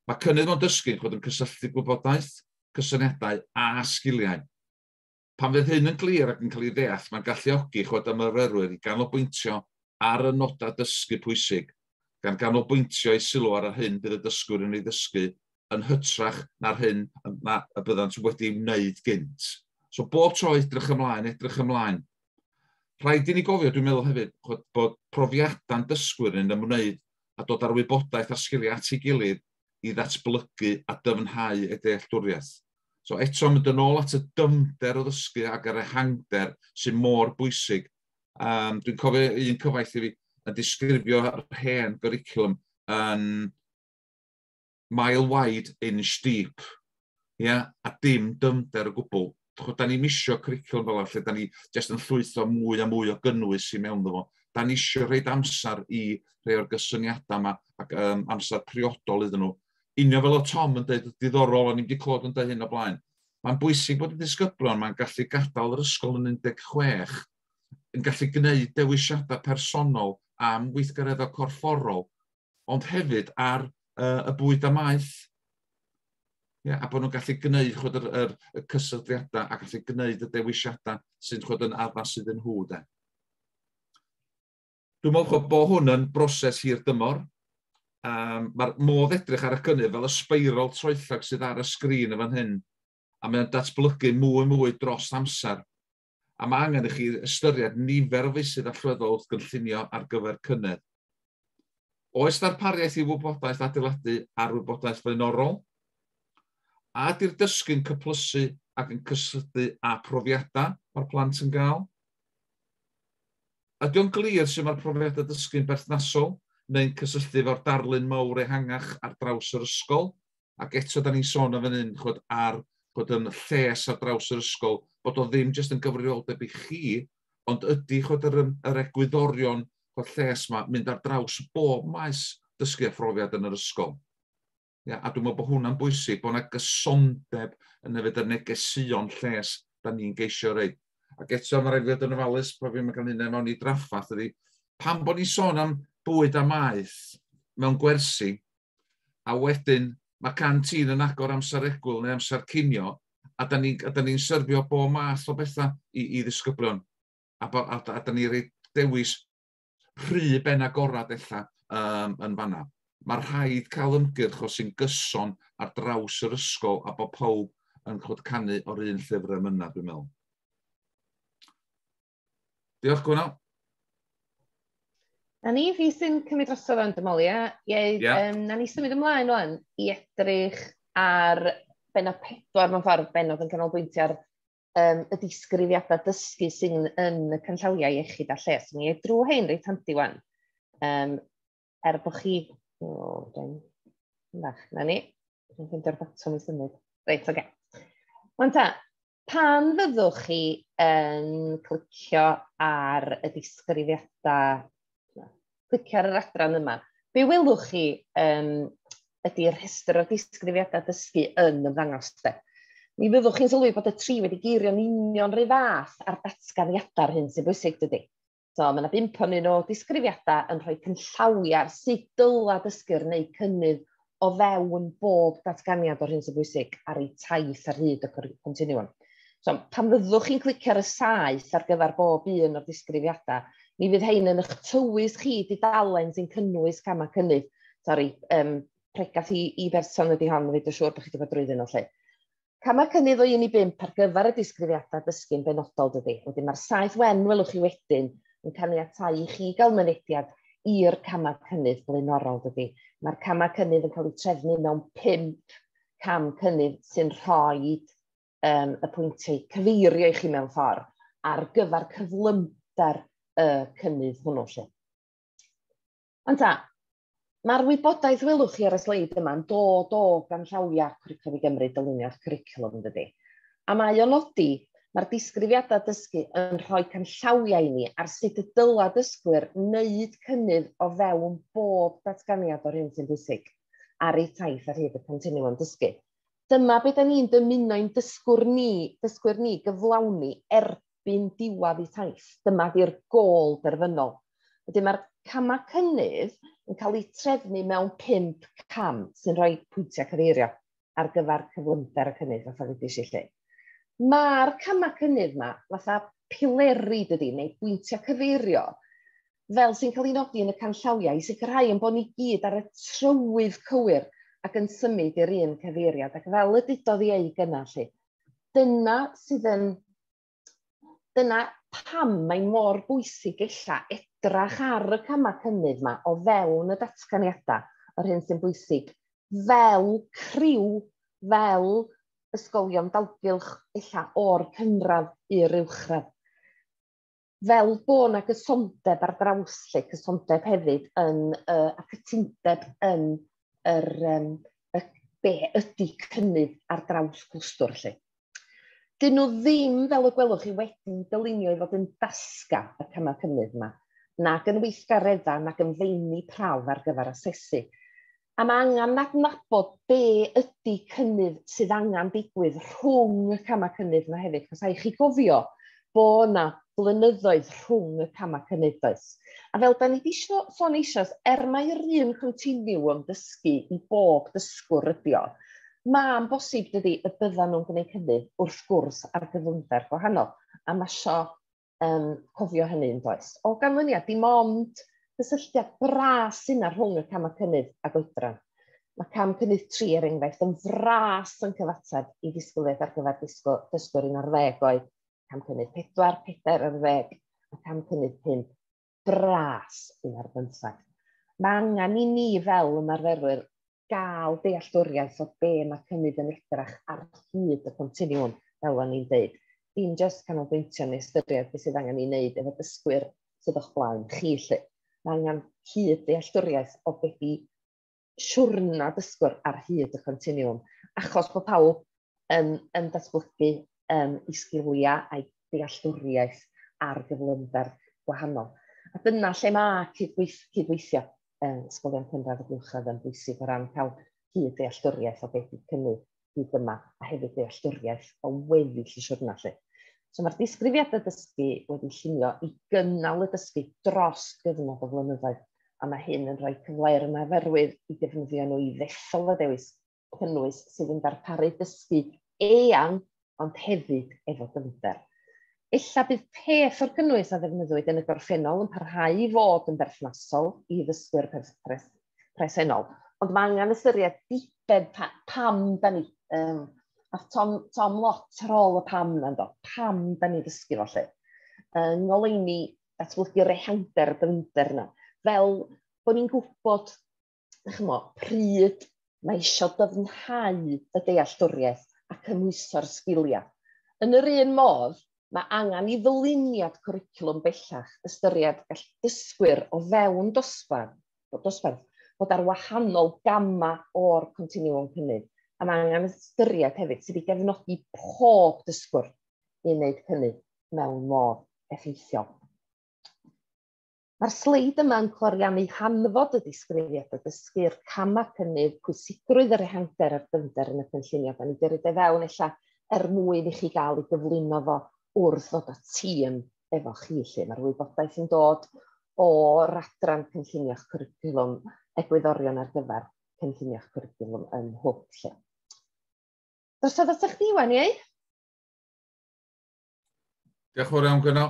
Mae cynnydd o'n dysgu chwyd yn cysylltu gwybodaeth, cysyniadau a sgiliau. Pan fydd hyn yn glir ac yn cael ei ddeall, mae'n galluogi eich coeden myfyrwyr i ganolbwyntio ar y nodau dysgu pwysig, gan ganolbwyntio eu sylw ar yr hyn bydd y dysgwyr yn ei ddysgu yn hytrach na'r hyn na y byddant wedi ei wneud gynt. So bob tro edrych ymlaen, edrych ymlaen. Rhaid i ni gofio, dwi'n meddwl hefyd, chod, bod profiadau'n dysgwyr yn ymwneud a dod â'r wybodaeth a'r sgiliau at ei gilydd i ddatblygu a dyfnhau ei dealltwriaeth. So eto mynd yn ôl at y dyfnder o ddysgu ac yr ehangder sy'n mor bwysig. Um, Dwi'n cofio un cyfaill i fi yn disgrifio'r hen gyricilwm yn mile wide, inch deep, yeah? a dim dyfnder o gwbl. Da ni misio cwricwlwm fel lle da ni jyst yn llwytho mwy a mwy o gynnwys i mewn fo. Da ni eisiau rhaid amser i rhai o'r gysyniadau yma ac um, amser priodol iddyn nhw. union fel oedd Tom yn dweud, diddorol, o'n i'n wedi clywed yn dweud hyn o blaen. Mae'n bwysig bod y disgyblion mae'n gallu gadael yr ysgol yn 16 yn gallu gwneud dewisiadau personol am weithgareddau corfforol, ond hefyd ar uh, y bwyd a maeth. Yeah, a bod nhw'n gallu gwneud chod, yr, yr, y cysylltiadau a gallu gwneud y dewisiadau sy'n chod, yn addas iddyn nhw. De. Dwi'n meddwl bod hwn yn broses hir dymor. Um, Mae'r modd edrych ar y cynnydd fel y sbeirol troellog sydd ar y sgrin yn fan hyn, a mae'n datblygu mwy mwy dros amser. A mae angen i chi ystyried nifer o feysydd allweddol wrth gynllunio ar gyfer cynnydd. Oes ddarpariaeth i wybodaeth adeiladu ar wybodaeth flaenorol? A ydy'r dysgu'n cyplysu ac yn cysylltu â profiadau mae'r plant yn gael? Ydy o'n glir sut mae'r profiadau dysgu'n berthnasol neu'n cysylltu efo'r darlun mawr ehangach ar draws yr ysgol? Ac eto, da ni'n sôn yn fan hyn chod, ar chod, yn lles ar draws yr ysgol, bod o ddim jyst yn gyfrifoldeb i chi, ond ydy chod, yr, yr egwyddorion chod, lles yma mynd ar draws bob maes dysgu a phrofiad yn yr ysgol. Ia? A dwi'n meddwl bod hwnna'n bwysig, bod yna gysondeb yn yfed yr negeseuon lles da ni'n geisio rei. Ac eto, mae rhaid fi fod yn ofalus bod fi'n cael hynny mewn i draffath ydy, pan bod ni'n sôn am bwyd a maeth mewn gwersi, a wedyn mae can tîn yn agor amser egwyl neu amser cinio, a da ni'n ni, ni syrfio bo math o bethau i, i ddisgyblion, a, a, a da ni'n rhoi dewis rhy ben agorad ella um, yn fanna. Mae rhaid cael ymgyrch o sy'n gyson ar draws yr ysgol a bod pawb yn chod canu o'r un llyfr am yna, dwi'n meddwl. Diolch, Gwynal. Na ni, fi sy'n cymryd dros o'n dymolia. Ieu, yeah. um, na ni symud ymlaen o'n i edrych ar benod pedwar mewn ffordd benod yn canolbwyntio ar um, y disgrifiadau dysgu sy'n yn y canllawiau iechyd a lles. Mi ei drwy hyn reit handi wan. Um, er bod chi... O, oh, dwi'n... Fach, na ni. Dwi'n fynd o'r botwm i symud. Reit, oge. Okay. Wan ta, pan fyddwch chi yn clicio ar y disgrifiadau clicio ar yr adran yma. Be welwch chi um, ydy'r rhestr o disgrifiadau dysgu yn ymddangos. De. Mi fyddwch chi'n sylwi bod y tri wedi geirio'n union rhy fath ar datganiadau'r hyn sy'n bwysig dydy. So, mae yna bimp o'n un o disgrifiadau yn rhoi cynllawiau ar sut dyla dysgu'r neu cynnydd o fewn bob datganiad o'r hyn sy'n bwysig ar ei taith ar hyd y continiwm. So, pan fyddwch chi'n clicio ar y saeth ar gyfer bob un o'r disgrifiadau, mi fydd hein yn eich tywys chi di dalen sy'n cynnwys camau cynnydd. Sori, um, pregath i, i berson ydy hon, fe dwi'n siŵr bod chi wedi bod drwyddyn nhw lle. Camau cynnydd o 1 i 5 ar gyfer y disgrifiadau dysgu'n benodol dydy. Wedyn mae'r saith wen welwch chi wedyn yn caniatau i chi gael mynediad i'r camau cynnydd blaenorol dydy. Mae'r camau cynnydd yn cael eu trefnu mewn 5 cam cynnydd sy'n rhoi um, y pwyntiau cyfeirio i chi mewn ffordd ar gyfer cyflymder y cynnydd hwnnw. Lle. Ond ta, Mae'r wybodaeth welwch chi ar y sleid yma yn dod o ganllawiau Cwricwlwm i Gymru, dyluniad cwricwlwm yn dydi. A mae o'n nodi, mae'r disgrifiadau dysgu yn rhoi canllawiau i ni ar sut y dyla dysgwyr wneud cynnydd o fewn bob datganiad o'r hyn sy'n bwysig ar eu taith ar hyd y continwwm dysgu. Dyma be da ni'n dymuno i'n dysgwr ni, dysgwyr ni gyflawni erbyn erbyn diwadd eu taith. Dyma di'r gôl derfynol. Wedyn mae'r camau cynnydd yn cael eu trefnu mewn pump cam sy'n rhoi pwyntiau cyfeirio ar gyfer cyflymder y cynnydd fatha ddudis i lle. Mae'r camau cynnydd yma fatha pileri dydy, neu bwyntiau cyfeirio, fel sy'n cael ei nodi yn y canllawiau, i sicrhau yn bod ni gyd ar y trywydd cywir ac yn symud i'r un cyfeiriad. Ac fel y dudodd i ei gynnau lle, dyna sydd yn... Dyna pam mae mor bwysig ella edrach ar y camau cynnydd yma o fewn y datganiadau, yr hyn sy'n bwysig, fel criw, fel ysgolion dalgylch ella o'r cynradd i'r uwchradd. fel bod yna gysondeb ar draws lle, cysondeb hefyd yn, uh, a cytundeb yn yr, um, y, be ydy cynnydd ar draws clwstwr lle. Dyn nhw ddim, fel y gwelwch chi, wedi dylunio i fod yn dasga y camau cynnydd yma, nag yn weithgareddau, nag yn feini prawf ar gyfer asesu. A mae angen adnabod be ydy cynnydd sydd angen digwydd rhwng y camau cynnydd yma hefyd. Cos a'i chi gofio bod yna blynyddoedd rhwng y camau cynnydd does. A fel da ni wedi sôn eisoes, er mae'r un continiwm dysgu i bob dysgwr ydio, mae'n bosib dydy y byddan nhw'n gwneud cynnydd wrth gwrs ar gyflymder gwahanol. A mae sio um, cofio hynny yn does. O ganlyniad, dim ond cysylltiad bras yna rhwng y cam y cynnydd a goedran. Mae cam cynnydd 3 er enghraifft yn fras yn cyfateb i ddisgwyliaeth ar gyfer disgwyl, dysgwyr un ar ddeg oed, cam cynnydd 4, 4 ar ddeg, a cam cynnydd 5, bras un ar bymthag. Mae angen i ni fel ymarferwyr gael dealltwriaeth o be mae cynnydd yn edrach ar hyd y continiwm, fel o'n i'n dweud. Dim jyst canolbwyntio neu ystyried beth sydd angen ei wneud efo dysgwyr sydd o'ch blaen chi, lle. Mae angen hyd dealltwriaeth o beth i siwrna dysgwr ar hyd y continiwm, achos bod pawb yn, yn datblygu um, i sgiliau a'i dealltwriaeth ar gyflymder gwahanol. A dyna lle mae cydweith, cydweithio um, ysgolion cynradd y buwchradd yn bwysig o ran cael hyd dealltwriaeth o beth yw cynnydd hyd yma, a hefyd dealltwriaeth o weddill y siwrna 'lly. So mae'r disgrifiadau dysgu wedi llunio i gynnal y dysgu dros gyfnod o flynyddoedd, a mae hyn yn rhoi cyfle i'r ymarferwyr i defnyddio nhw i ddethol y dewis cynnwys sydd yn darparu dysgu eang ond hefyd efo dyfnder. Ella bydd peth o'r cynnwys a ddefnyddwyd yn y gorffennol yn parhau i fod yn berthnasol i ddysgwyr perffaith, presennol. Ond mae angen ystyried diben pa, pam da ni. Um, a Tom, Tom lot rôl y pam yna, do. Pam da ni ddysgu fo lle. Yng ngoleini datblygu rehander dyfnder yna. Fel bod ni'n gwybod, chmo, pryd mae eisiau dyfnhau y dealltwriaeth a cymhwyso'r sgiliau. Yn yr un modd, mae angen i ddyluniad cwricwlwm bellach ystyried gall dysgwyr o fewn dosbarth bod dosbarth, bod ar wahanol gamau o'r continuum cynnydd. A mae angen ystyried hefyd sydd wedi gefnogi pob dysgwr i wneud cynnydd mewn modd effeithiol. Mae'r sleid yma yn cloriannu hanfod y disgrifiad o dysgu'r camau cynnydd, pwysigrwydd yr ehangder a'r dyfnder yn y cynllunio. Da ni wedi rhaid e fewn ella er mwyn i chi gael ei gyflwyno fo wrth ddod o ti yn efo chi lle mae'r wybodaeth yn dod o'r adran cynllunio'ch cwricwlwm egwyddorion ar gyfer cynllunio'ch cwricwlwm yn hwb lle. Dos oedd atach chdi wan, iei? Diolch yn fawr iawn, Gwyno.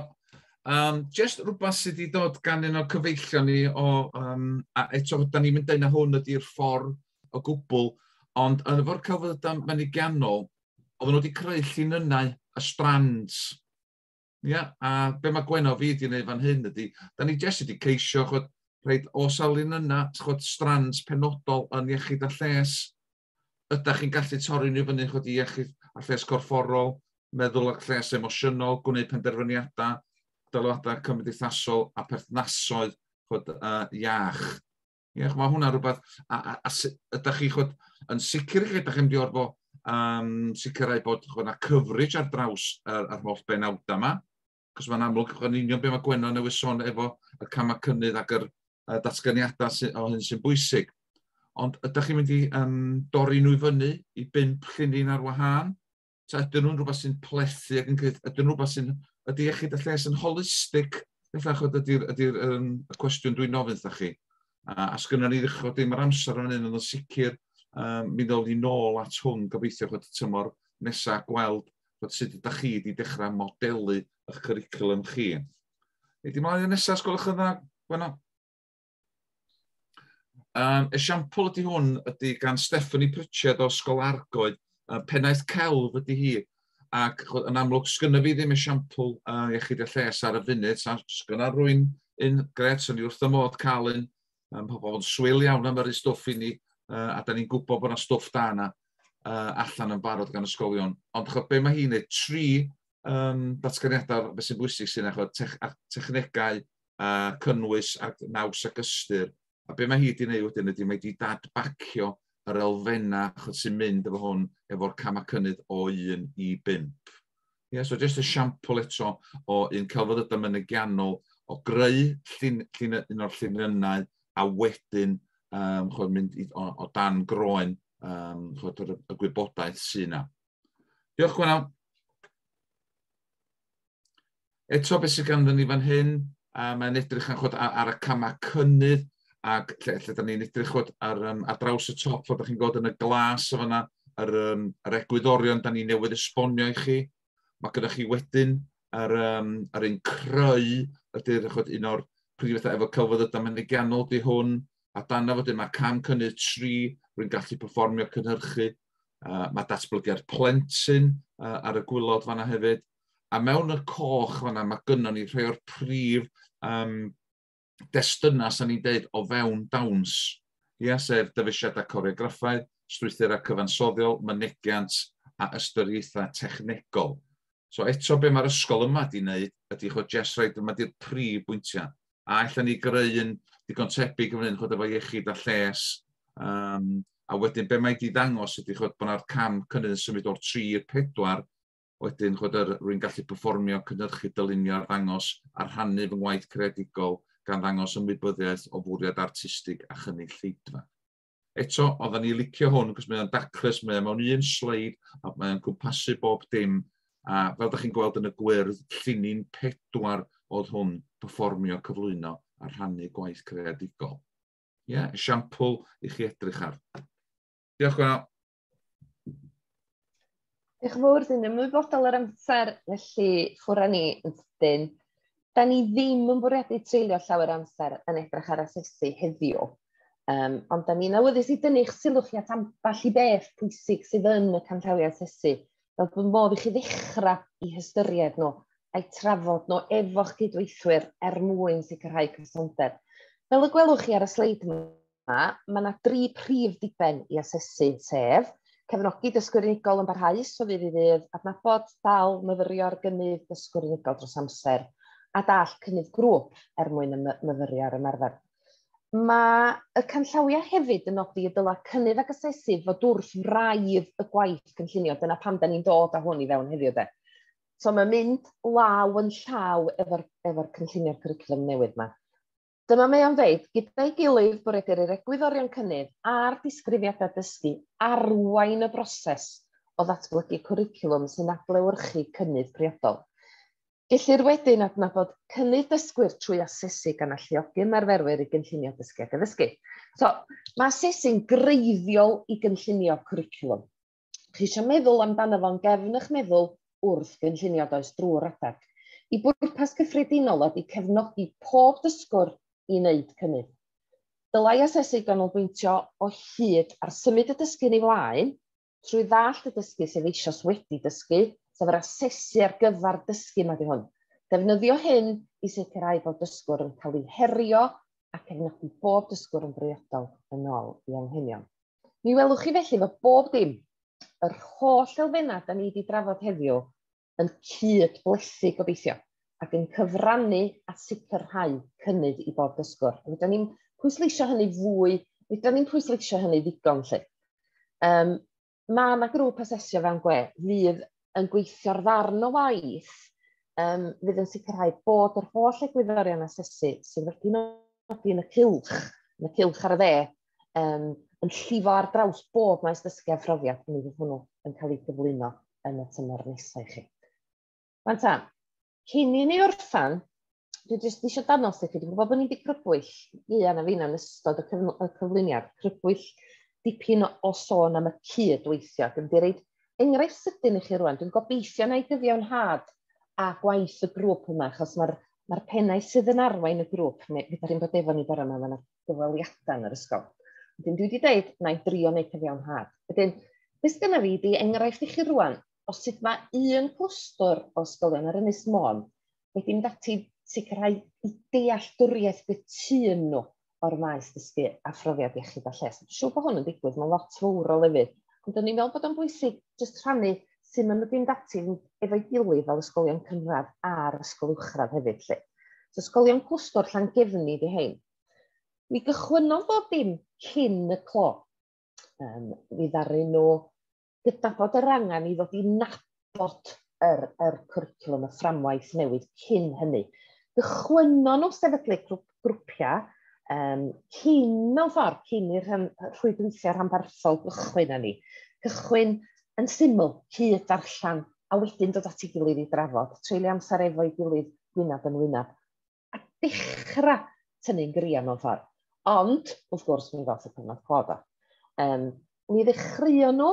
Um, just rhywbeth sydd wedi dod gan un o'r cyfeillion ni o, um, a eto, da ni'n mynd dyna hwn ydy'r ffordd o gwbl, ond yn efo'r celfyddydau mynygiannol, oedden nhw wedi creu llinynnau a strands Ia, a be mae Gwenno fi wedi gwneud fan hyn ydy, da ni jyst wedi ceisio chod, rhaid o salin yna, chod, strands penodol yn iechyd a lles. Ydych chi'n gallu torri nhw fyny chod, i iechyd a lles corfforol, meddwl a lles emosiynol, gwneud penderfyniadau, dyloadau cymdeithasol a perthnasoedd chod, uh, iach. Ie, mae hwnna rhywbeth, a, a, a, a ydych chi chod, yn sicr chi, ydych chi'n mynd i orfod um, sicrhau bod chod, na coverage ar draws yr, yr holl benawdau yma, cos mae'n amlwg yn union beth mae Gwenno newydd sôn efo y camau cynnydd ac yr uh, datganiadau sy, o hyn sy'n bwysig. Ond ydych chi'n mynd i um, dorri nhw i fyny i bimp llunyn ar wahân? Ta ydyn nhw'n rhywbeth sy'n plethu ac yn cyth, ydyn nhw'n rhywbeth sy'n, ydy iechyd a lles yn holistig? Felly, achos ydy'r ydy, ydy um, y cwestiwn dwi'n ofyn wrthych chi. A, a sgynna ni ddechrau dim ar amser o'n un, ond yn sicr, um, mi ddol ni nôl at hwn gobeithio chod y tymor nesaf gweld bod sut ydych chi wedi dechrau modelu eich cwricwlwm chi. Ydy mlaen yn nesaf, sgolwch yn dda, Gwenno? Um, esiampl ydy hwn ydy gan Stephanie Pritchard o Ysgol Argoed, uh, pennaeth celf ydy hi, ac yn amlwg sgynna fi ddim esiampl uh, iechyd y lles ar y funud, sa'n sgynna rwy'n un gret, sy'n ni wrth y modd cael un, um, pobl yn swyl iawn am yr stwff i ni, uh, a da ni'n gwybod bod yna stwff da yna uh, allan yn barod gan ysgolion. Ond chod, be mae hi'n ei tri um, datganiadau beth sy'n bwysig sy'n eich technegau uh, cynnwys a naws ac ystyr. A be mae hi wedi gwneud wedyn ydy mae wedi dadbacio yr elfennau achos sy'n mynd efo hwn efo'r camau cynnydd o 1 i 5. Yeah, so just y siampl eto o un celfydd ydym yn y gianol o greu llun, llun, un o'r lluniau a wedyn um, chod, mynd i, o, o dan groen um, chod, y, y gwybodaeth sy'n yna. Diolch Gwenal. Eto, beth sydd ganddo ni fan hyn, a mae'n edrych yn chod ar, ar y camau cynnydd, ac lle, lle da ni'n edrych chod ar, um, ar draws y top, fod chi'n gweld yn y glas o fanna, yr, um, yr egwyddorion da ni newydd esbonio i chi. Mae gyda chi wedyn yr, um, yr un creu ydy'r chod un o'r prif bethau efo celfyddydau mynegiannol di hwn, a dan fod yma cam cynnydd tri, rwy'n gallu performio cynhyrchu, uh, mae datblygiad plentyn uh, ar y gwylod fanna hefyd, A mewn y coch fanna, mae gynnon ni rhai o'r prif um, destunau, sa'n ni'n deud, o fewn dawns. Ia, sef dyfeisiadau coreograffaidd, strwythurau cyfansoddiol, mynegiant a ystyriaethau technegol. So eto be mae'r ysgol yma di wneud ydy chod jes rhaid yma di'r prif bwyntiau. A allan ni greu yn digon tebyg yn hyn chod efo iechyd a lles. Um, a wedyn be mae di ddangos ydy chod bod yna'r cam cynnydd yn symud o'r 3 i'r 4 Wedyn, chwed, yr, rwy'n gallu perfformio, cynhyrchu, dylunio, arddangos a rhannu fy ngwaith creadigol gan ddangos ymwybyddiaeth o fwriad artistig a chynnig lleidfa. Eto, oedden ni licio hwn, cos mae o'n daclus, mae o'n mewn un sleid, a mae o'n cwmpasu bob dim, a fel da chi'n gweld yn y gwyrdd, llinyn pedwar oedd hwn, perfformio, cyflwyno a rhannu gwaith creadigol. Ie, yeah, esiampl i chi edrych ar. Diolch, Gwenno. Diolch yn fawr, dwi'n ymwybodol yr amser, felly ffwrra ni yn sydyn. Da ni ddim yn bwriadu treulio llawer amser yn edrych ar asesu heddiw, um, ond da ni'n awyddus i dynnu'ch sylw chi at ambell i beth pwysig sydd yn y canllawiau asesu, fel bod modd i chi ddechrau i hystyried nhw a'i trafod nhw efo'ch cydweithwyr er mwyn sicrhau cysondeb. Fel y gwelwch chi ar y sleid yma, yma, mae yna dri prif ddiben i asesu, sef cefnogi dysgwyr unigol yn barhaus o fydd i fydd, adnabod, dal, myfyrio'r gynnydd dysgwyr unigol dros amser, a dall cynnydd grŵp er mwyn myfyrio ar ymarfer. Mae y canllawiau hefyd yn nodi y dyla cynnydd ac asesu fod wrth wraidd y gwaith cynllunio. Dyna pam da ni'n dod â hwn i fewn heddiw de. So mae'n mynd law yn llaw efo'r efo cynllunio'r cwricwlwm newydd yma. Dyma mae o'n dweud, gyda'i gilydd bwriedir i'r egwyddorion cynnydd a'r disgrifiadau dysgu arwain y broses o ddatblygu cwricwlwm sy'n adlewyrchu cynnydd priodol. Gellir wedyn adnabod cynnydd dysgwyr trwy asesu gan alluogi ymarferwyr i gynllunio dysgu ac addysgu. So, mae asesu'n greiddiol i gynllunio cwricwlwm. chi eisiau meddwl amdano fo'n gefn eich meddwl wrth gynllunio does drwy'r adeg. Y bwrpas cyffredinol ydy cefnogi pob dysgwr i wneud cynnydd. Dylai asesu ganolbwyntio o hyd ar symud y dysgu'n ei flaen trwy ddallt y dysgu sef eisoes wedi dysgu, sef yr asesu ar gyfer dysgu mae di hwn. Defnyddio hyn i sicrhau bod dysgwr yn cael ei herio a cefnogi bob dysgwr yn briodol yn ôl i anghenion. Mi welwch chi felly fod bob dim, yr holl elfennau da ni wedi drafod heddiw, yn cyd-blethu gobeithio, ac yn cyfrannu at sicrhau cynnydd i bob dysgwr. Rydyn ni'n pwysleisio hynny fwy, rydyn ni'n pwysleisio hynny ddigon lle. Um, mae yna grŵp asesio fewn gwe fydd yn gweithio ar ddarn o waith um, fydd yn sicrhau bod yr holl egwyddorion asesu sydd wedi nodi yn y cilch, yn y cilch ar y dde, um, yn llifo ar draws bob maes dysgu a phrofiad mi fydd hwnnw yn cael ei gyflwyno yn y tymor nesau chi. Fan ta, Cyn i ni orffan, dwi jyst eisiau danos i chi, dwi'n gwybod bod ni wedi crybwyll fuan a fi'n yn ystod y, cyfl y cyflwyniad, crybwyll dipyn o, o sôn am y cydweithio. Dwi'n di reid enghraifft sydyn i chi rwan, dwi'n gobeithio na i gyfiawnhad a gwaith y grŵp yma, achos mae'r ma pennau sydd yn arwain y grŵp, neu gyda rhywun bod efo ni bore yma, mae yna gyfweliadau yn yr ysgol. Wedyn dwi wedi dweud, na i drio wneud cyfiawnhad. Wedyn, beth gyda fi, di enghraifft i chi rwan, o sut mae un clwstwr o ysgolion ar Ynys Môn wedi mynd ati i sicrhau dealltwriaeth gytûn nhw o'r maes dysgu a phrofiad iechyd a lles. Dwi'n siŵr bod hwn yn digwydd mewn lot fawr o lefydd, ond o'n i'n meddwl bod o'n bwysig jyst rhannu sut maen nhw wedi mynd ati efo'i gilydd fel ysgolion cynradd a'r ysgol uwchradd hefyd 'lly. So ysgolion clwstwr Llangefni ydy hein. Mi gychwynnodd bob dim cyn y clo. Um, mi ddaru nhw gydnabod yr angen i ddod i nabod yr, yr cwricwlwm, y fframwaith newydd cyn hynny. Gychwynno nhw sefydlu grwp, grwpiau um, cyn mewn ffordd, cyn i'r rhwydweithiau rhanbarthol gychwyn â ni. Cychwyn yn syml, cyd darllen, a wedyn dod at ei gilydd i drafod, treulio amser efo'i gilydd gwynaf yn wynaf. a dechra tynnu'n gria mewn ffordd. Ond, wrth gwrs, mi ddoth y cyfnod clo do. Um, mi ddechreuon nhw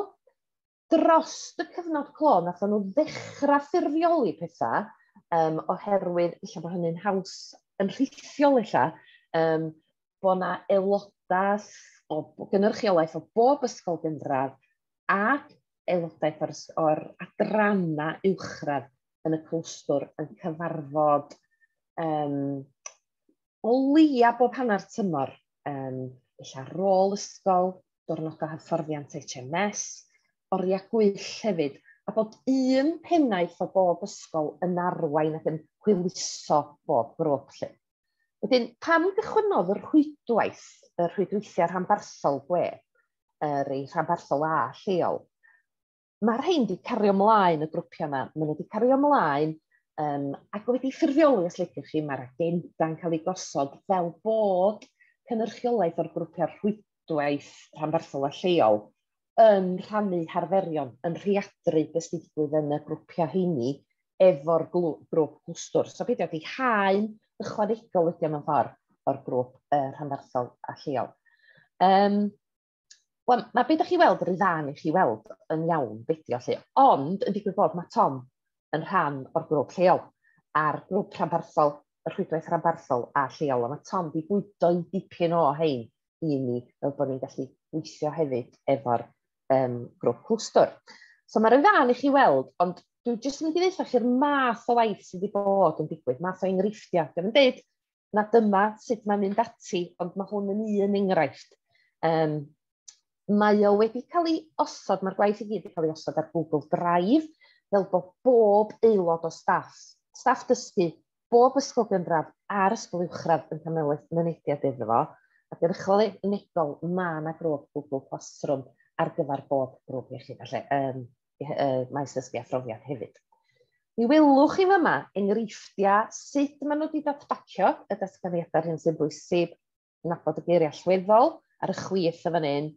dros y cyfnod clo, nath nhw ddechrau ffurfioli pethau, um, oherwydd lle bod hynny'n haws yn rhithiol lle, um, bod yna aelodaeth o gynrychiolaeth o bob ysgol gynradd ac aelodaeth o'r, or adrana uwchradd yn y clwstwr yn cyfarfod um, o leia bob hanner tymor, um, illa rôl ysgol, diwrnodau hyfforddiant HMS, oriau gwyll hefyd, a bod un pennaeth o bob ysgol yn arwain ac yn hwyluso bob grwp lle. Wedyn, pam gychwynnodd yr rhwydwaith, y rhwydweithiau rhanbarthol gwe, yr ei rhanbarthol A lleol? ma' rhein 'di cario mlaen y grwpia' 'ma, ma' nw 'di cario mlaen yym ac wedi ffurfioli os liciwch chi, ma'r agenda'n ca'l ei gosod fel bod cynyrchiolaeth o'r grwpia' rhwydwaith rhanbarthol a lleol yn rhannu harferion, yn rheadru be' sy' 'di digwydd yn y grwpia' rheini efo'r glw- grŵp clwstwr. So beidio â haen ychwanegol ydi o mewn ffor o'r grŵp yy rhanbarthol a lleol. Yym. Wel, na beth ydych chi weld, yr dda'n i chi weld yn iawn beidio lle. Ond, yn digwydd bod, mae Tom yn rhan o'r grwp lleol, a'r grwp rhanbarthol, y rhwydwaith rhanbarthol a lleol. A mae Tom wedi bwydo i dipyn o hein i ni, fel bod ni'n gallu gweithio hefyd efo'r um, grwp clwstwr. So mae'r dda'n i chi weld, ond dwi'n jyst yn mynd i ddeitha chi'r math o waith sydd wedi bod yn digwydd, math o enghreifftiau. Dwi'n yn dweud na dyma sut mae'n mynd ati, ond mae hwn yn un enghraifft. Um, mae o wedi cael ei osod, mae'r gwaith i gyd wedi cael ei osod ar Google Drive, fel bod bob aelod o staff, staff dysgu, bob ysgol gynradd a'r ysgol uwchradd yn cael mynediad iddo fo, ac yn ychwanegol mae yna grwp Google Classroom ar gyfer bob grwp iechyd a lle. Um, uh, maes dysgu a phrofiad hefyd. Mi welwch chi fyma enghreifftiau sut maen nhw wedi datbacio y datganiadau hyn sy'n bwysig, nabod y geiriau allweddol ar y chwith y fan hyn,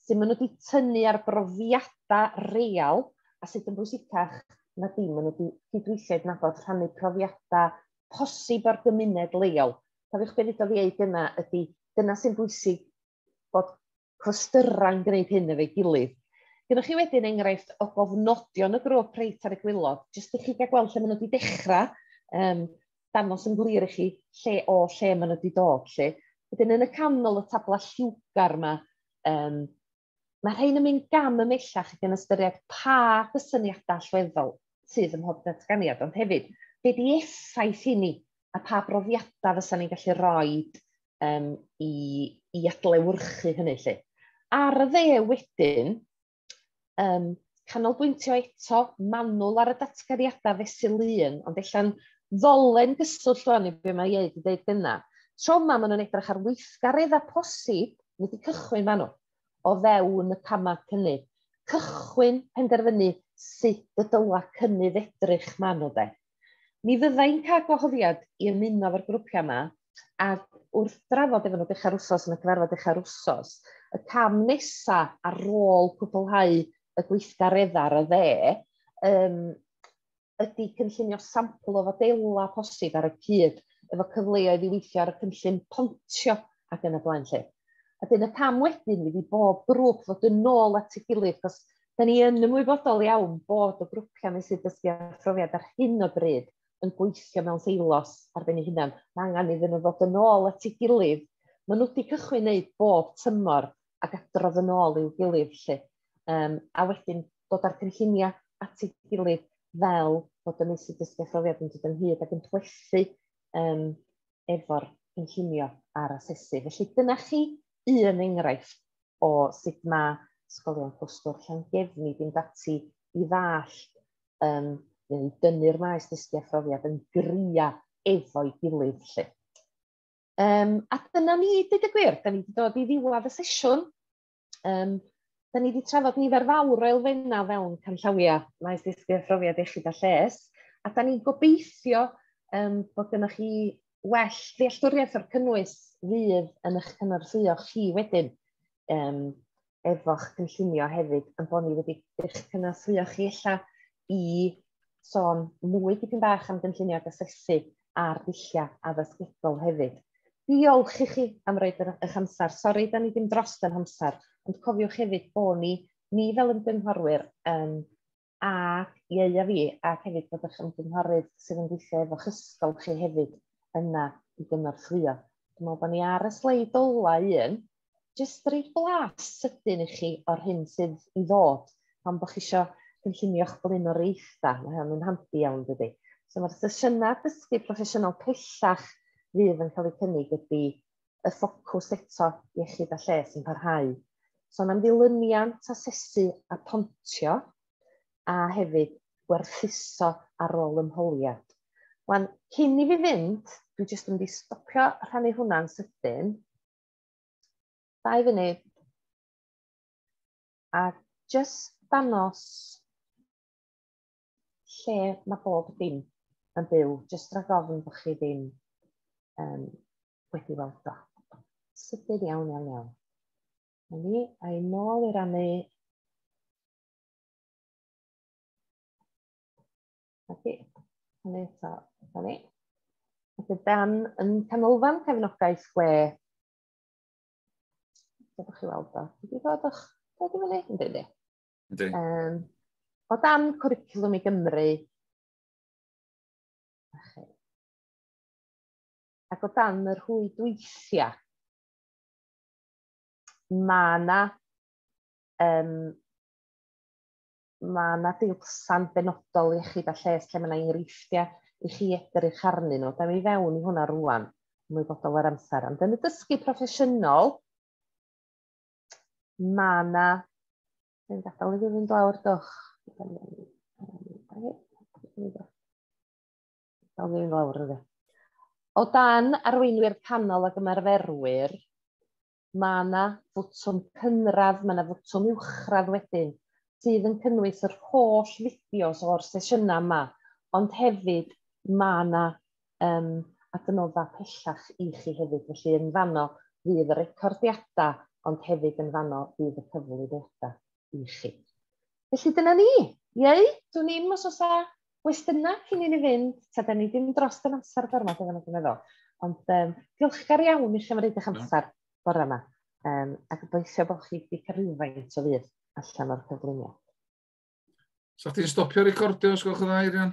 sy'n maen nhw wedi tynnu ar brofiadau real a sut yn bwysicach na dim, maen nhw wedi cydweithio i nabod rhannu profiadau posib o'r gymuned leol. Cofiwch beth ddweud yna ydy, dyna sy'n bwysig bod clystyrau'n gwneud hyn efo'i gilydd. Gyda chi wedyn enghraifft o gofnodion y grwp reit ar y gwylod, jyst i chi gael gweld lle maen nhw wedi dechrau, um, dangos yn glir i chi lle o lle maen nhw wedi dod. Lle. Wedyn yn y canol y tabla lliwgar yma, um, mae rhain yn mynd gam y mellach ac yn ystyried pa gysyniadau allweddol sydd ym mhob datganiad, ond hefyd, be di effaith hynny a pa brofiadau fysa ni'n gallu rhoi um, i, i adlewyrchu hynny lle. Ar y dde wedyn, um, canolbwyntio eto manwl ar y datganiadau fesul un, ond ella'n ddolen gyswllt o'n i beth mae ei dweud yna. Tro yma maen nhw'n edrych ar weithgaredd a posib wedi cychwyn maen nhw o fewn y camau cynnydd. Cychwyn penderfynu sut y dyla cynnydd edrych maen nhw de. Mi fydda i'n cael gwahoddiad i ymuno efo'r grwpiau yma, a wrth drafod efo nhw dechrau'r wsos yn y cyfarfod dechrau'r wsos, y cam nesa ar ôl cwblhau y gweithgareddau ar y dde, um, ydy cynllunio sampl o fodela posib ar y cyd efo cyfleoedd i weithio ar y cynllun pontio ac yn y blaen lle. A dyn y cam wedyn fydd i bob grŵp fod yn nôl at ei gilydd, cos 'dan ni yn ymwybodol iawn bod y grwpia' meysydd dysgu a phrofiad ar hyn o bryd yn gweithio mewn silos ar ben 'u hunan. Ma' angan iddyn nhw ddod yn ôl at 'i gilydd. Ma' nhw 'di cychwyn neud bob tymor ac adrodd yn ôl i'w gilydd 'lly yym a wedyn dod â'r cynllunia' at 'i gilydd fel bod y meysydd dysgu a phrofiad yn dod ynghyd ac yn plethu yym efo'r cynllunio a'r asesu. Felly dyna chi un enghraifft. o sut mae ysgolion Clwstwr Llangefni fynd ati i ddallt um, neu i dynnu'r maes dysgu a phrofiad yn gria efo'i gilydd. Lle. Um, a dyna ni, dyd y gwir, da ni wedi dod i ddiwedd y sesiwn. Um, da ni wedi trafod nifer fawr o elfennau fewn canllawiau maes dysgu a phrofiad iechyd a lles. A da ni'n gobeithio um, bod gennych chi well ddealltwriaeth o'r cynnwys fydd yn eich cynorthwyo chi wedyn um, efo'ch cynllunio hefyd, yn bod ni wedi eich cynorthwyo chi ella i sôn mwy dipyn bach am gynllunio ac asesu a'r dulliau addysgegol hefyd. Diolch i chi am roed yr, eich amser. Sori, da ni ddim dros yn amser, ond cofiwch hefyd bod ni, ni fel ymgynghorwyr, um, a ieu a fi, ac hefyd bod eich ymgynghorydd sydd yn gweithio efo chysgol chi hefyd yna i gynorthwyo. Dwi'n meddwl bod ni ar y sleid ola un, jyst rhoi blas sydyn i chi o'r hyn sydd i ddod, pan bod chi eisiau cynllunio'ch blaenoriaethau, mae hynny'n handi iawn dydy. So mae'r sesiynau dysgu proffesiynol pellach fydd yn cael eu cynnig ydy y ffocws eto iechyd a lles yn parhau. Son am ddilyniant, asesu a pontio, a hefyd gwerthuso ar ôl ymholiad. Wan, cyn i fi fynd, dwi jyst yn mynd i stopio rhannu hwnna'n sydyn. Dau funud. A jyst danos lle mae bob dim yn byw, jyst rhag ofn bod chi ddim um, wedi weld o. Sydyn iawn, iawn, iawn. Na ni, a'i nôl i rannu Felly, hynny eto, da ni. Felly, dan yn canolfan cefnogaeth gwe. Dwi'n chi weld o. Dwi'n gwybod o'ch dod i fyny, yn dweud Ynddi. Um, o dan cwricwlwm i Gymru, ac o dan y rhwydweithiau, mae yna um, mae yna dilsan benodol iechyd a lles lle mae yna enghreifftiau i chi edrych arnyn nhw. Da ni fewn i hwnna rwan, mwy bodol ar amser. Ond yn y dysgu proffesiynol, mae yna... Dwi'n gadael i fi fynd lawr, dwch. Dwi'n gadael i fi fynd lawr, dwch. Dal ni'n lawr yna. O dan arweinwyr panel ag ymarferwyr, mae yna fwtwm cynradd, mae yna fwtwm uwchradd wedyn, sydd yn cynnwys yr holl fideos o'r sesiynau yma, ond hefyd mae yna um, adnodda pellach i chi hefyd. Felly yn fanno fydd y recordiadau, ond hefyd yn fanno fydd y cyflwyniadau i chi. Felly dyna ni. Iei, dwi'n ni'n os oes gwestiynau cyn i ni fynd, ta da ni ddim dros yn amser bore 'ma dwi'n meddwl. Ond um, diolchgar iawn i chi am roed eich amser bore yma. Um, a gobeithio bod chi wedi cael rhywfaint o fydd allan o'r cyflwyniad. Sa chdi'n stopio recordio os gwelwch yn dda, Irian?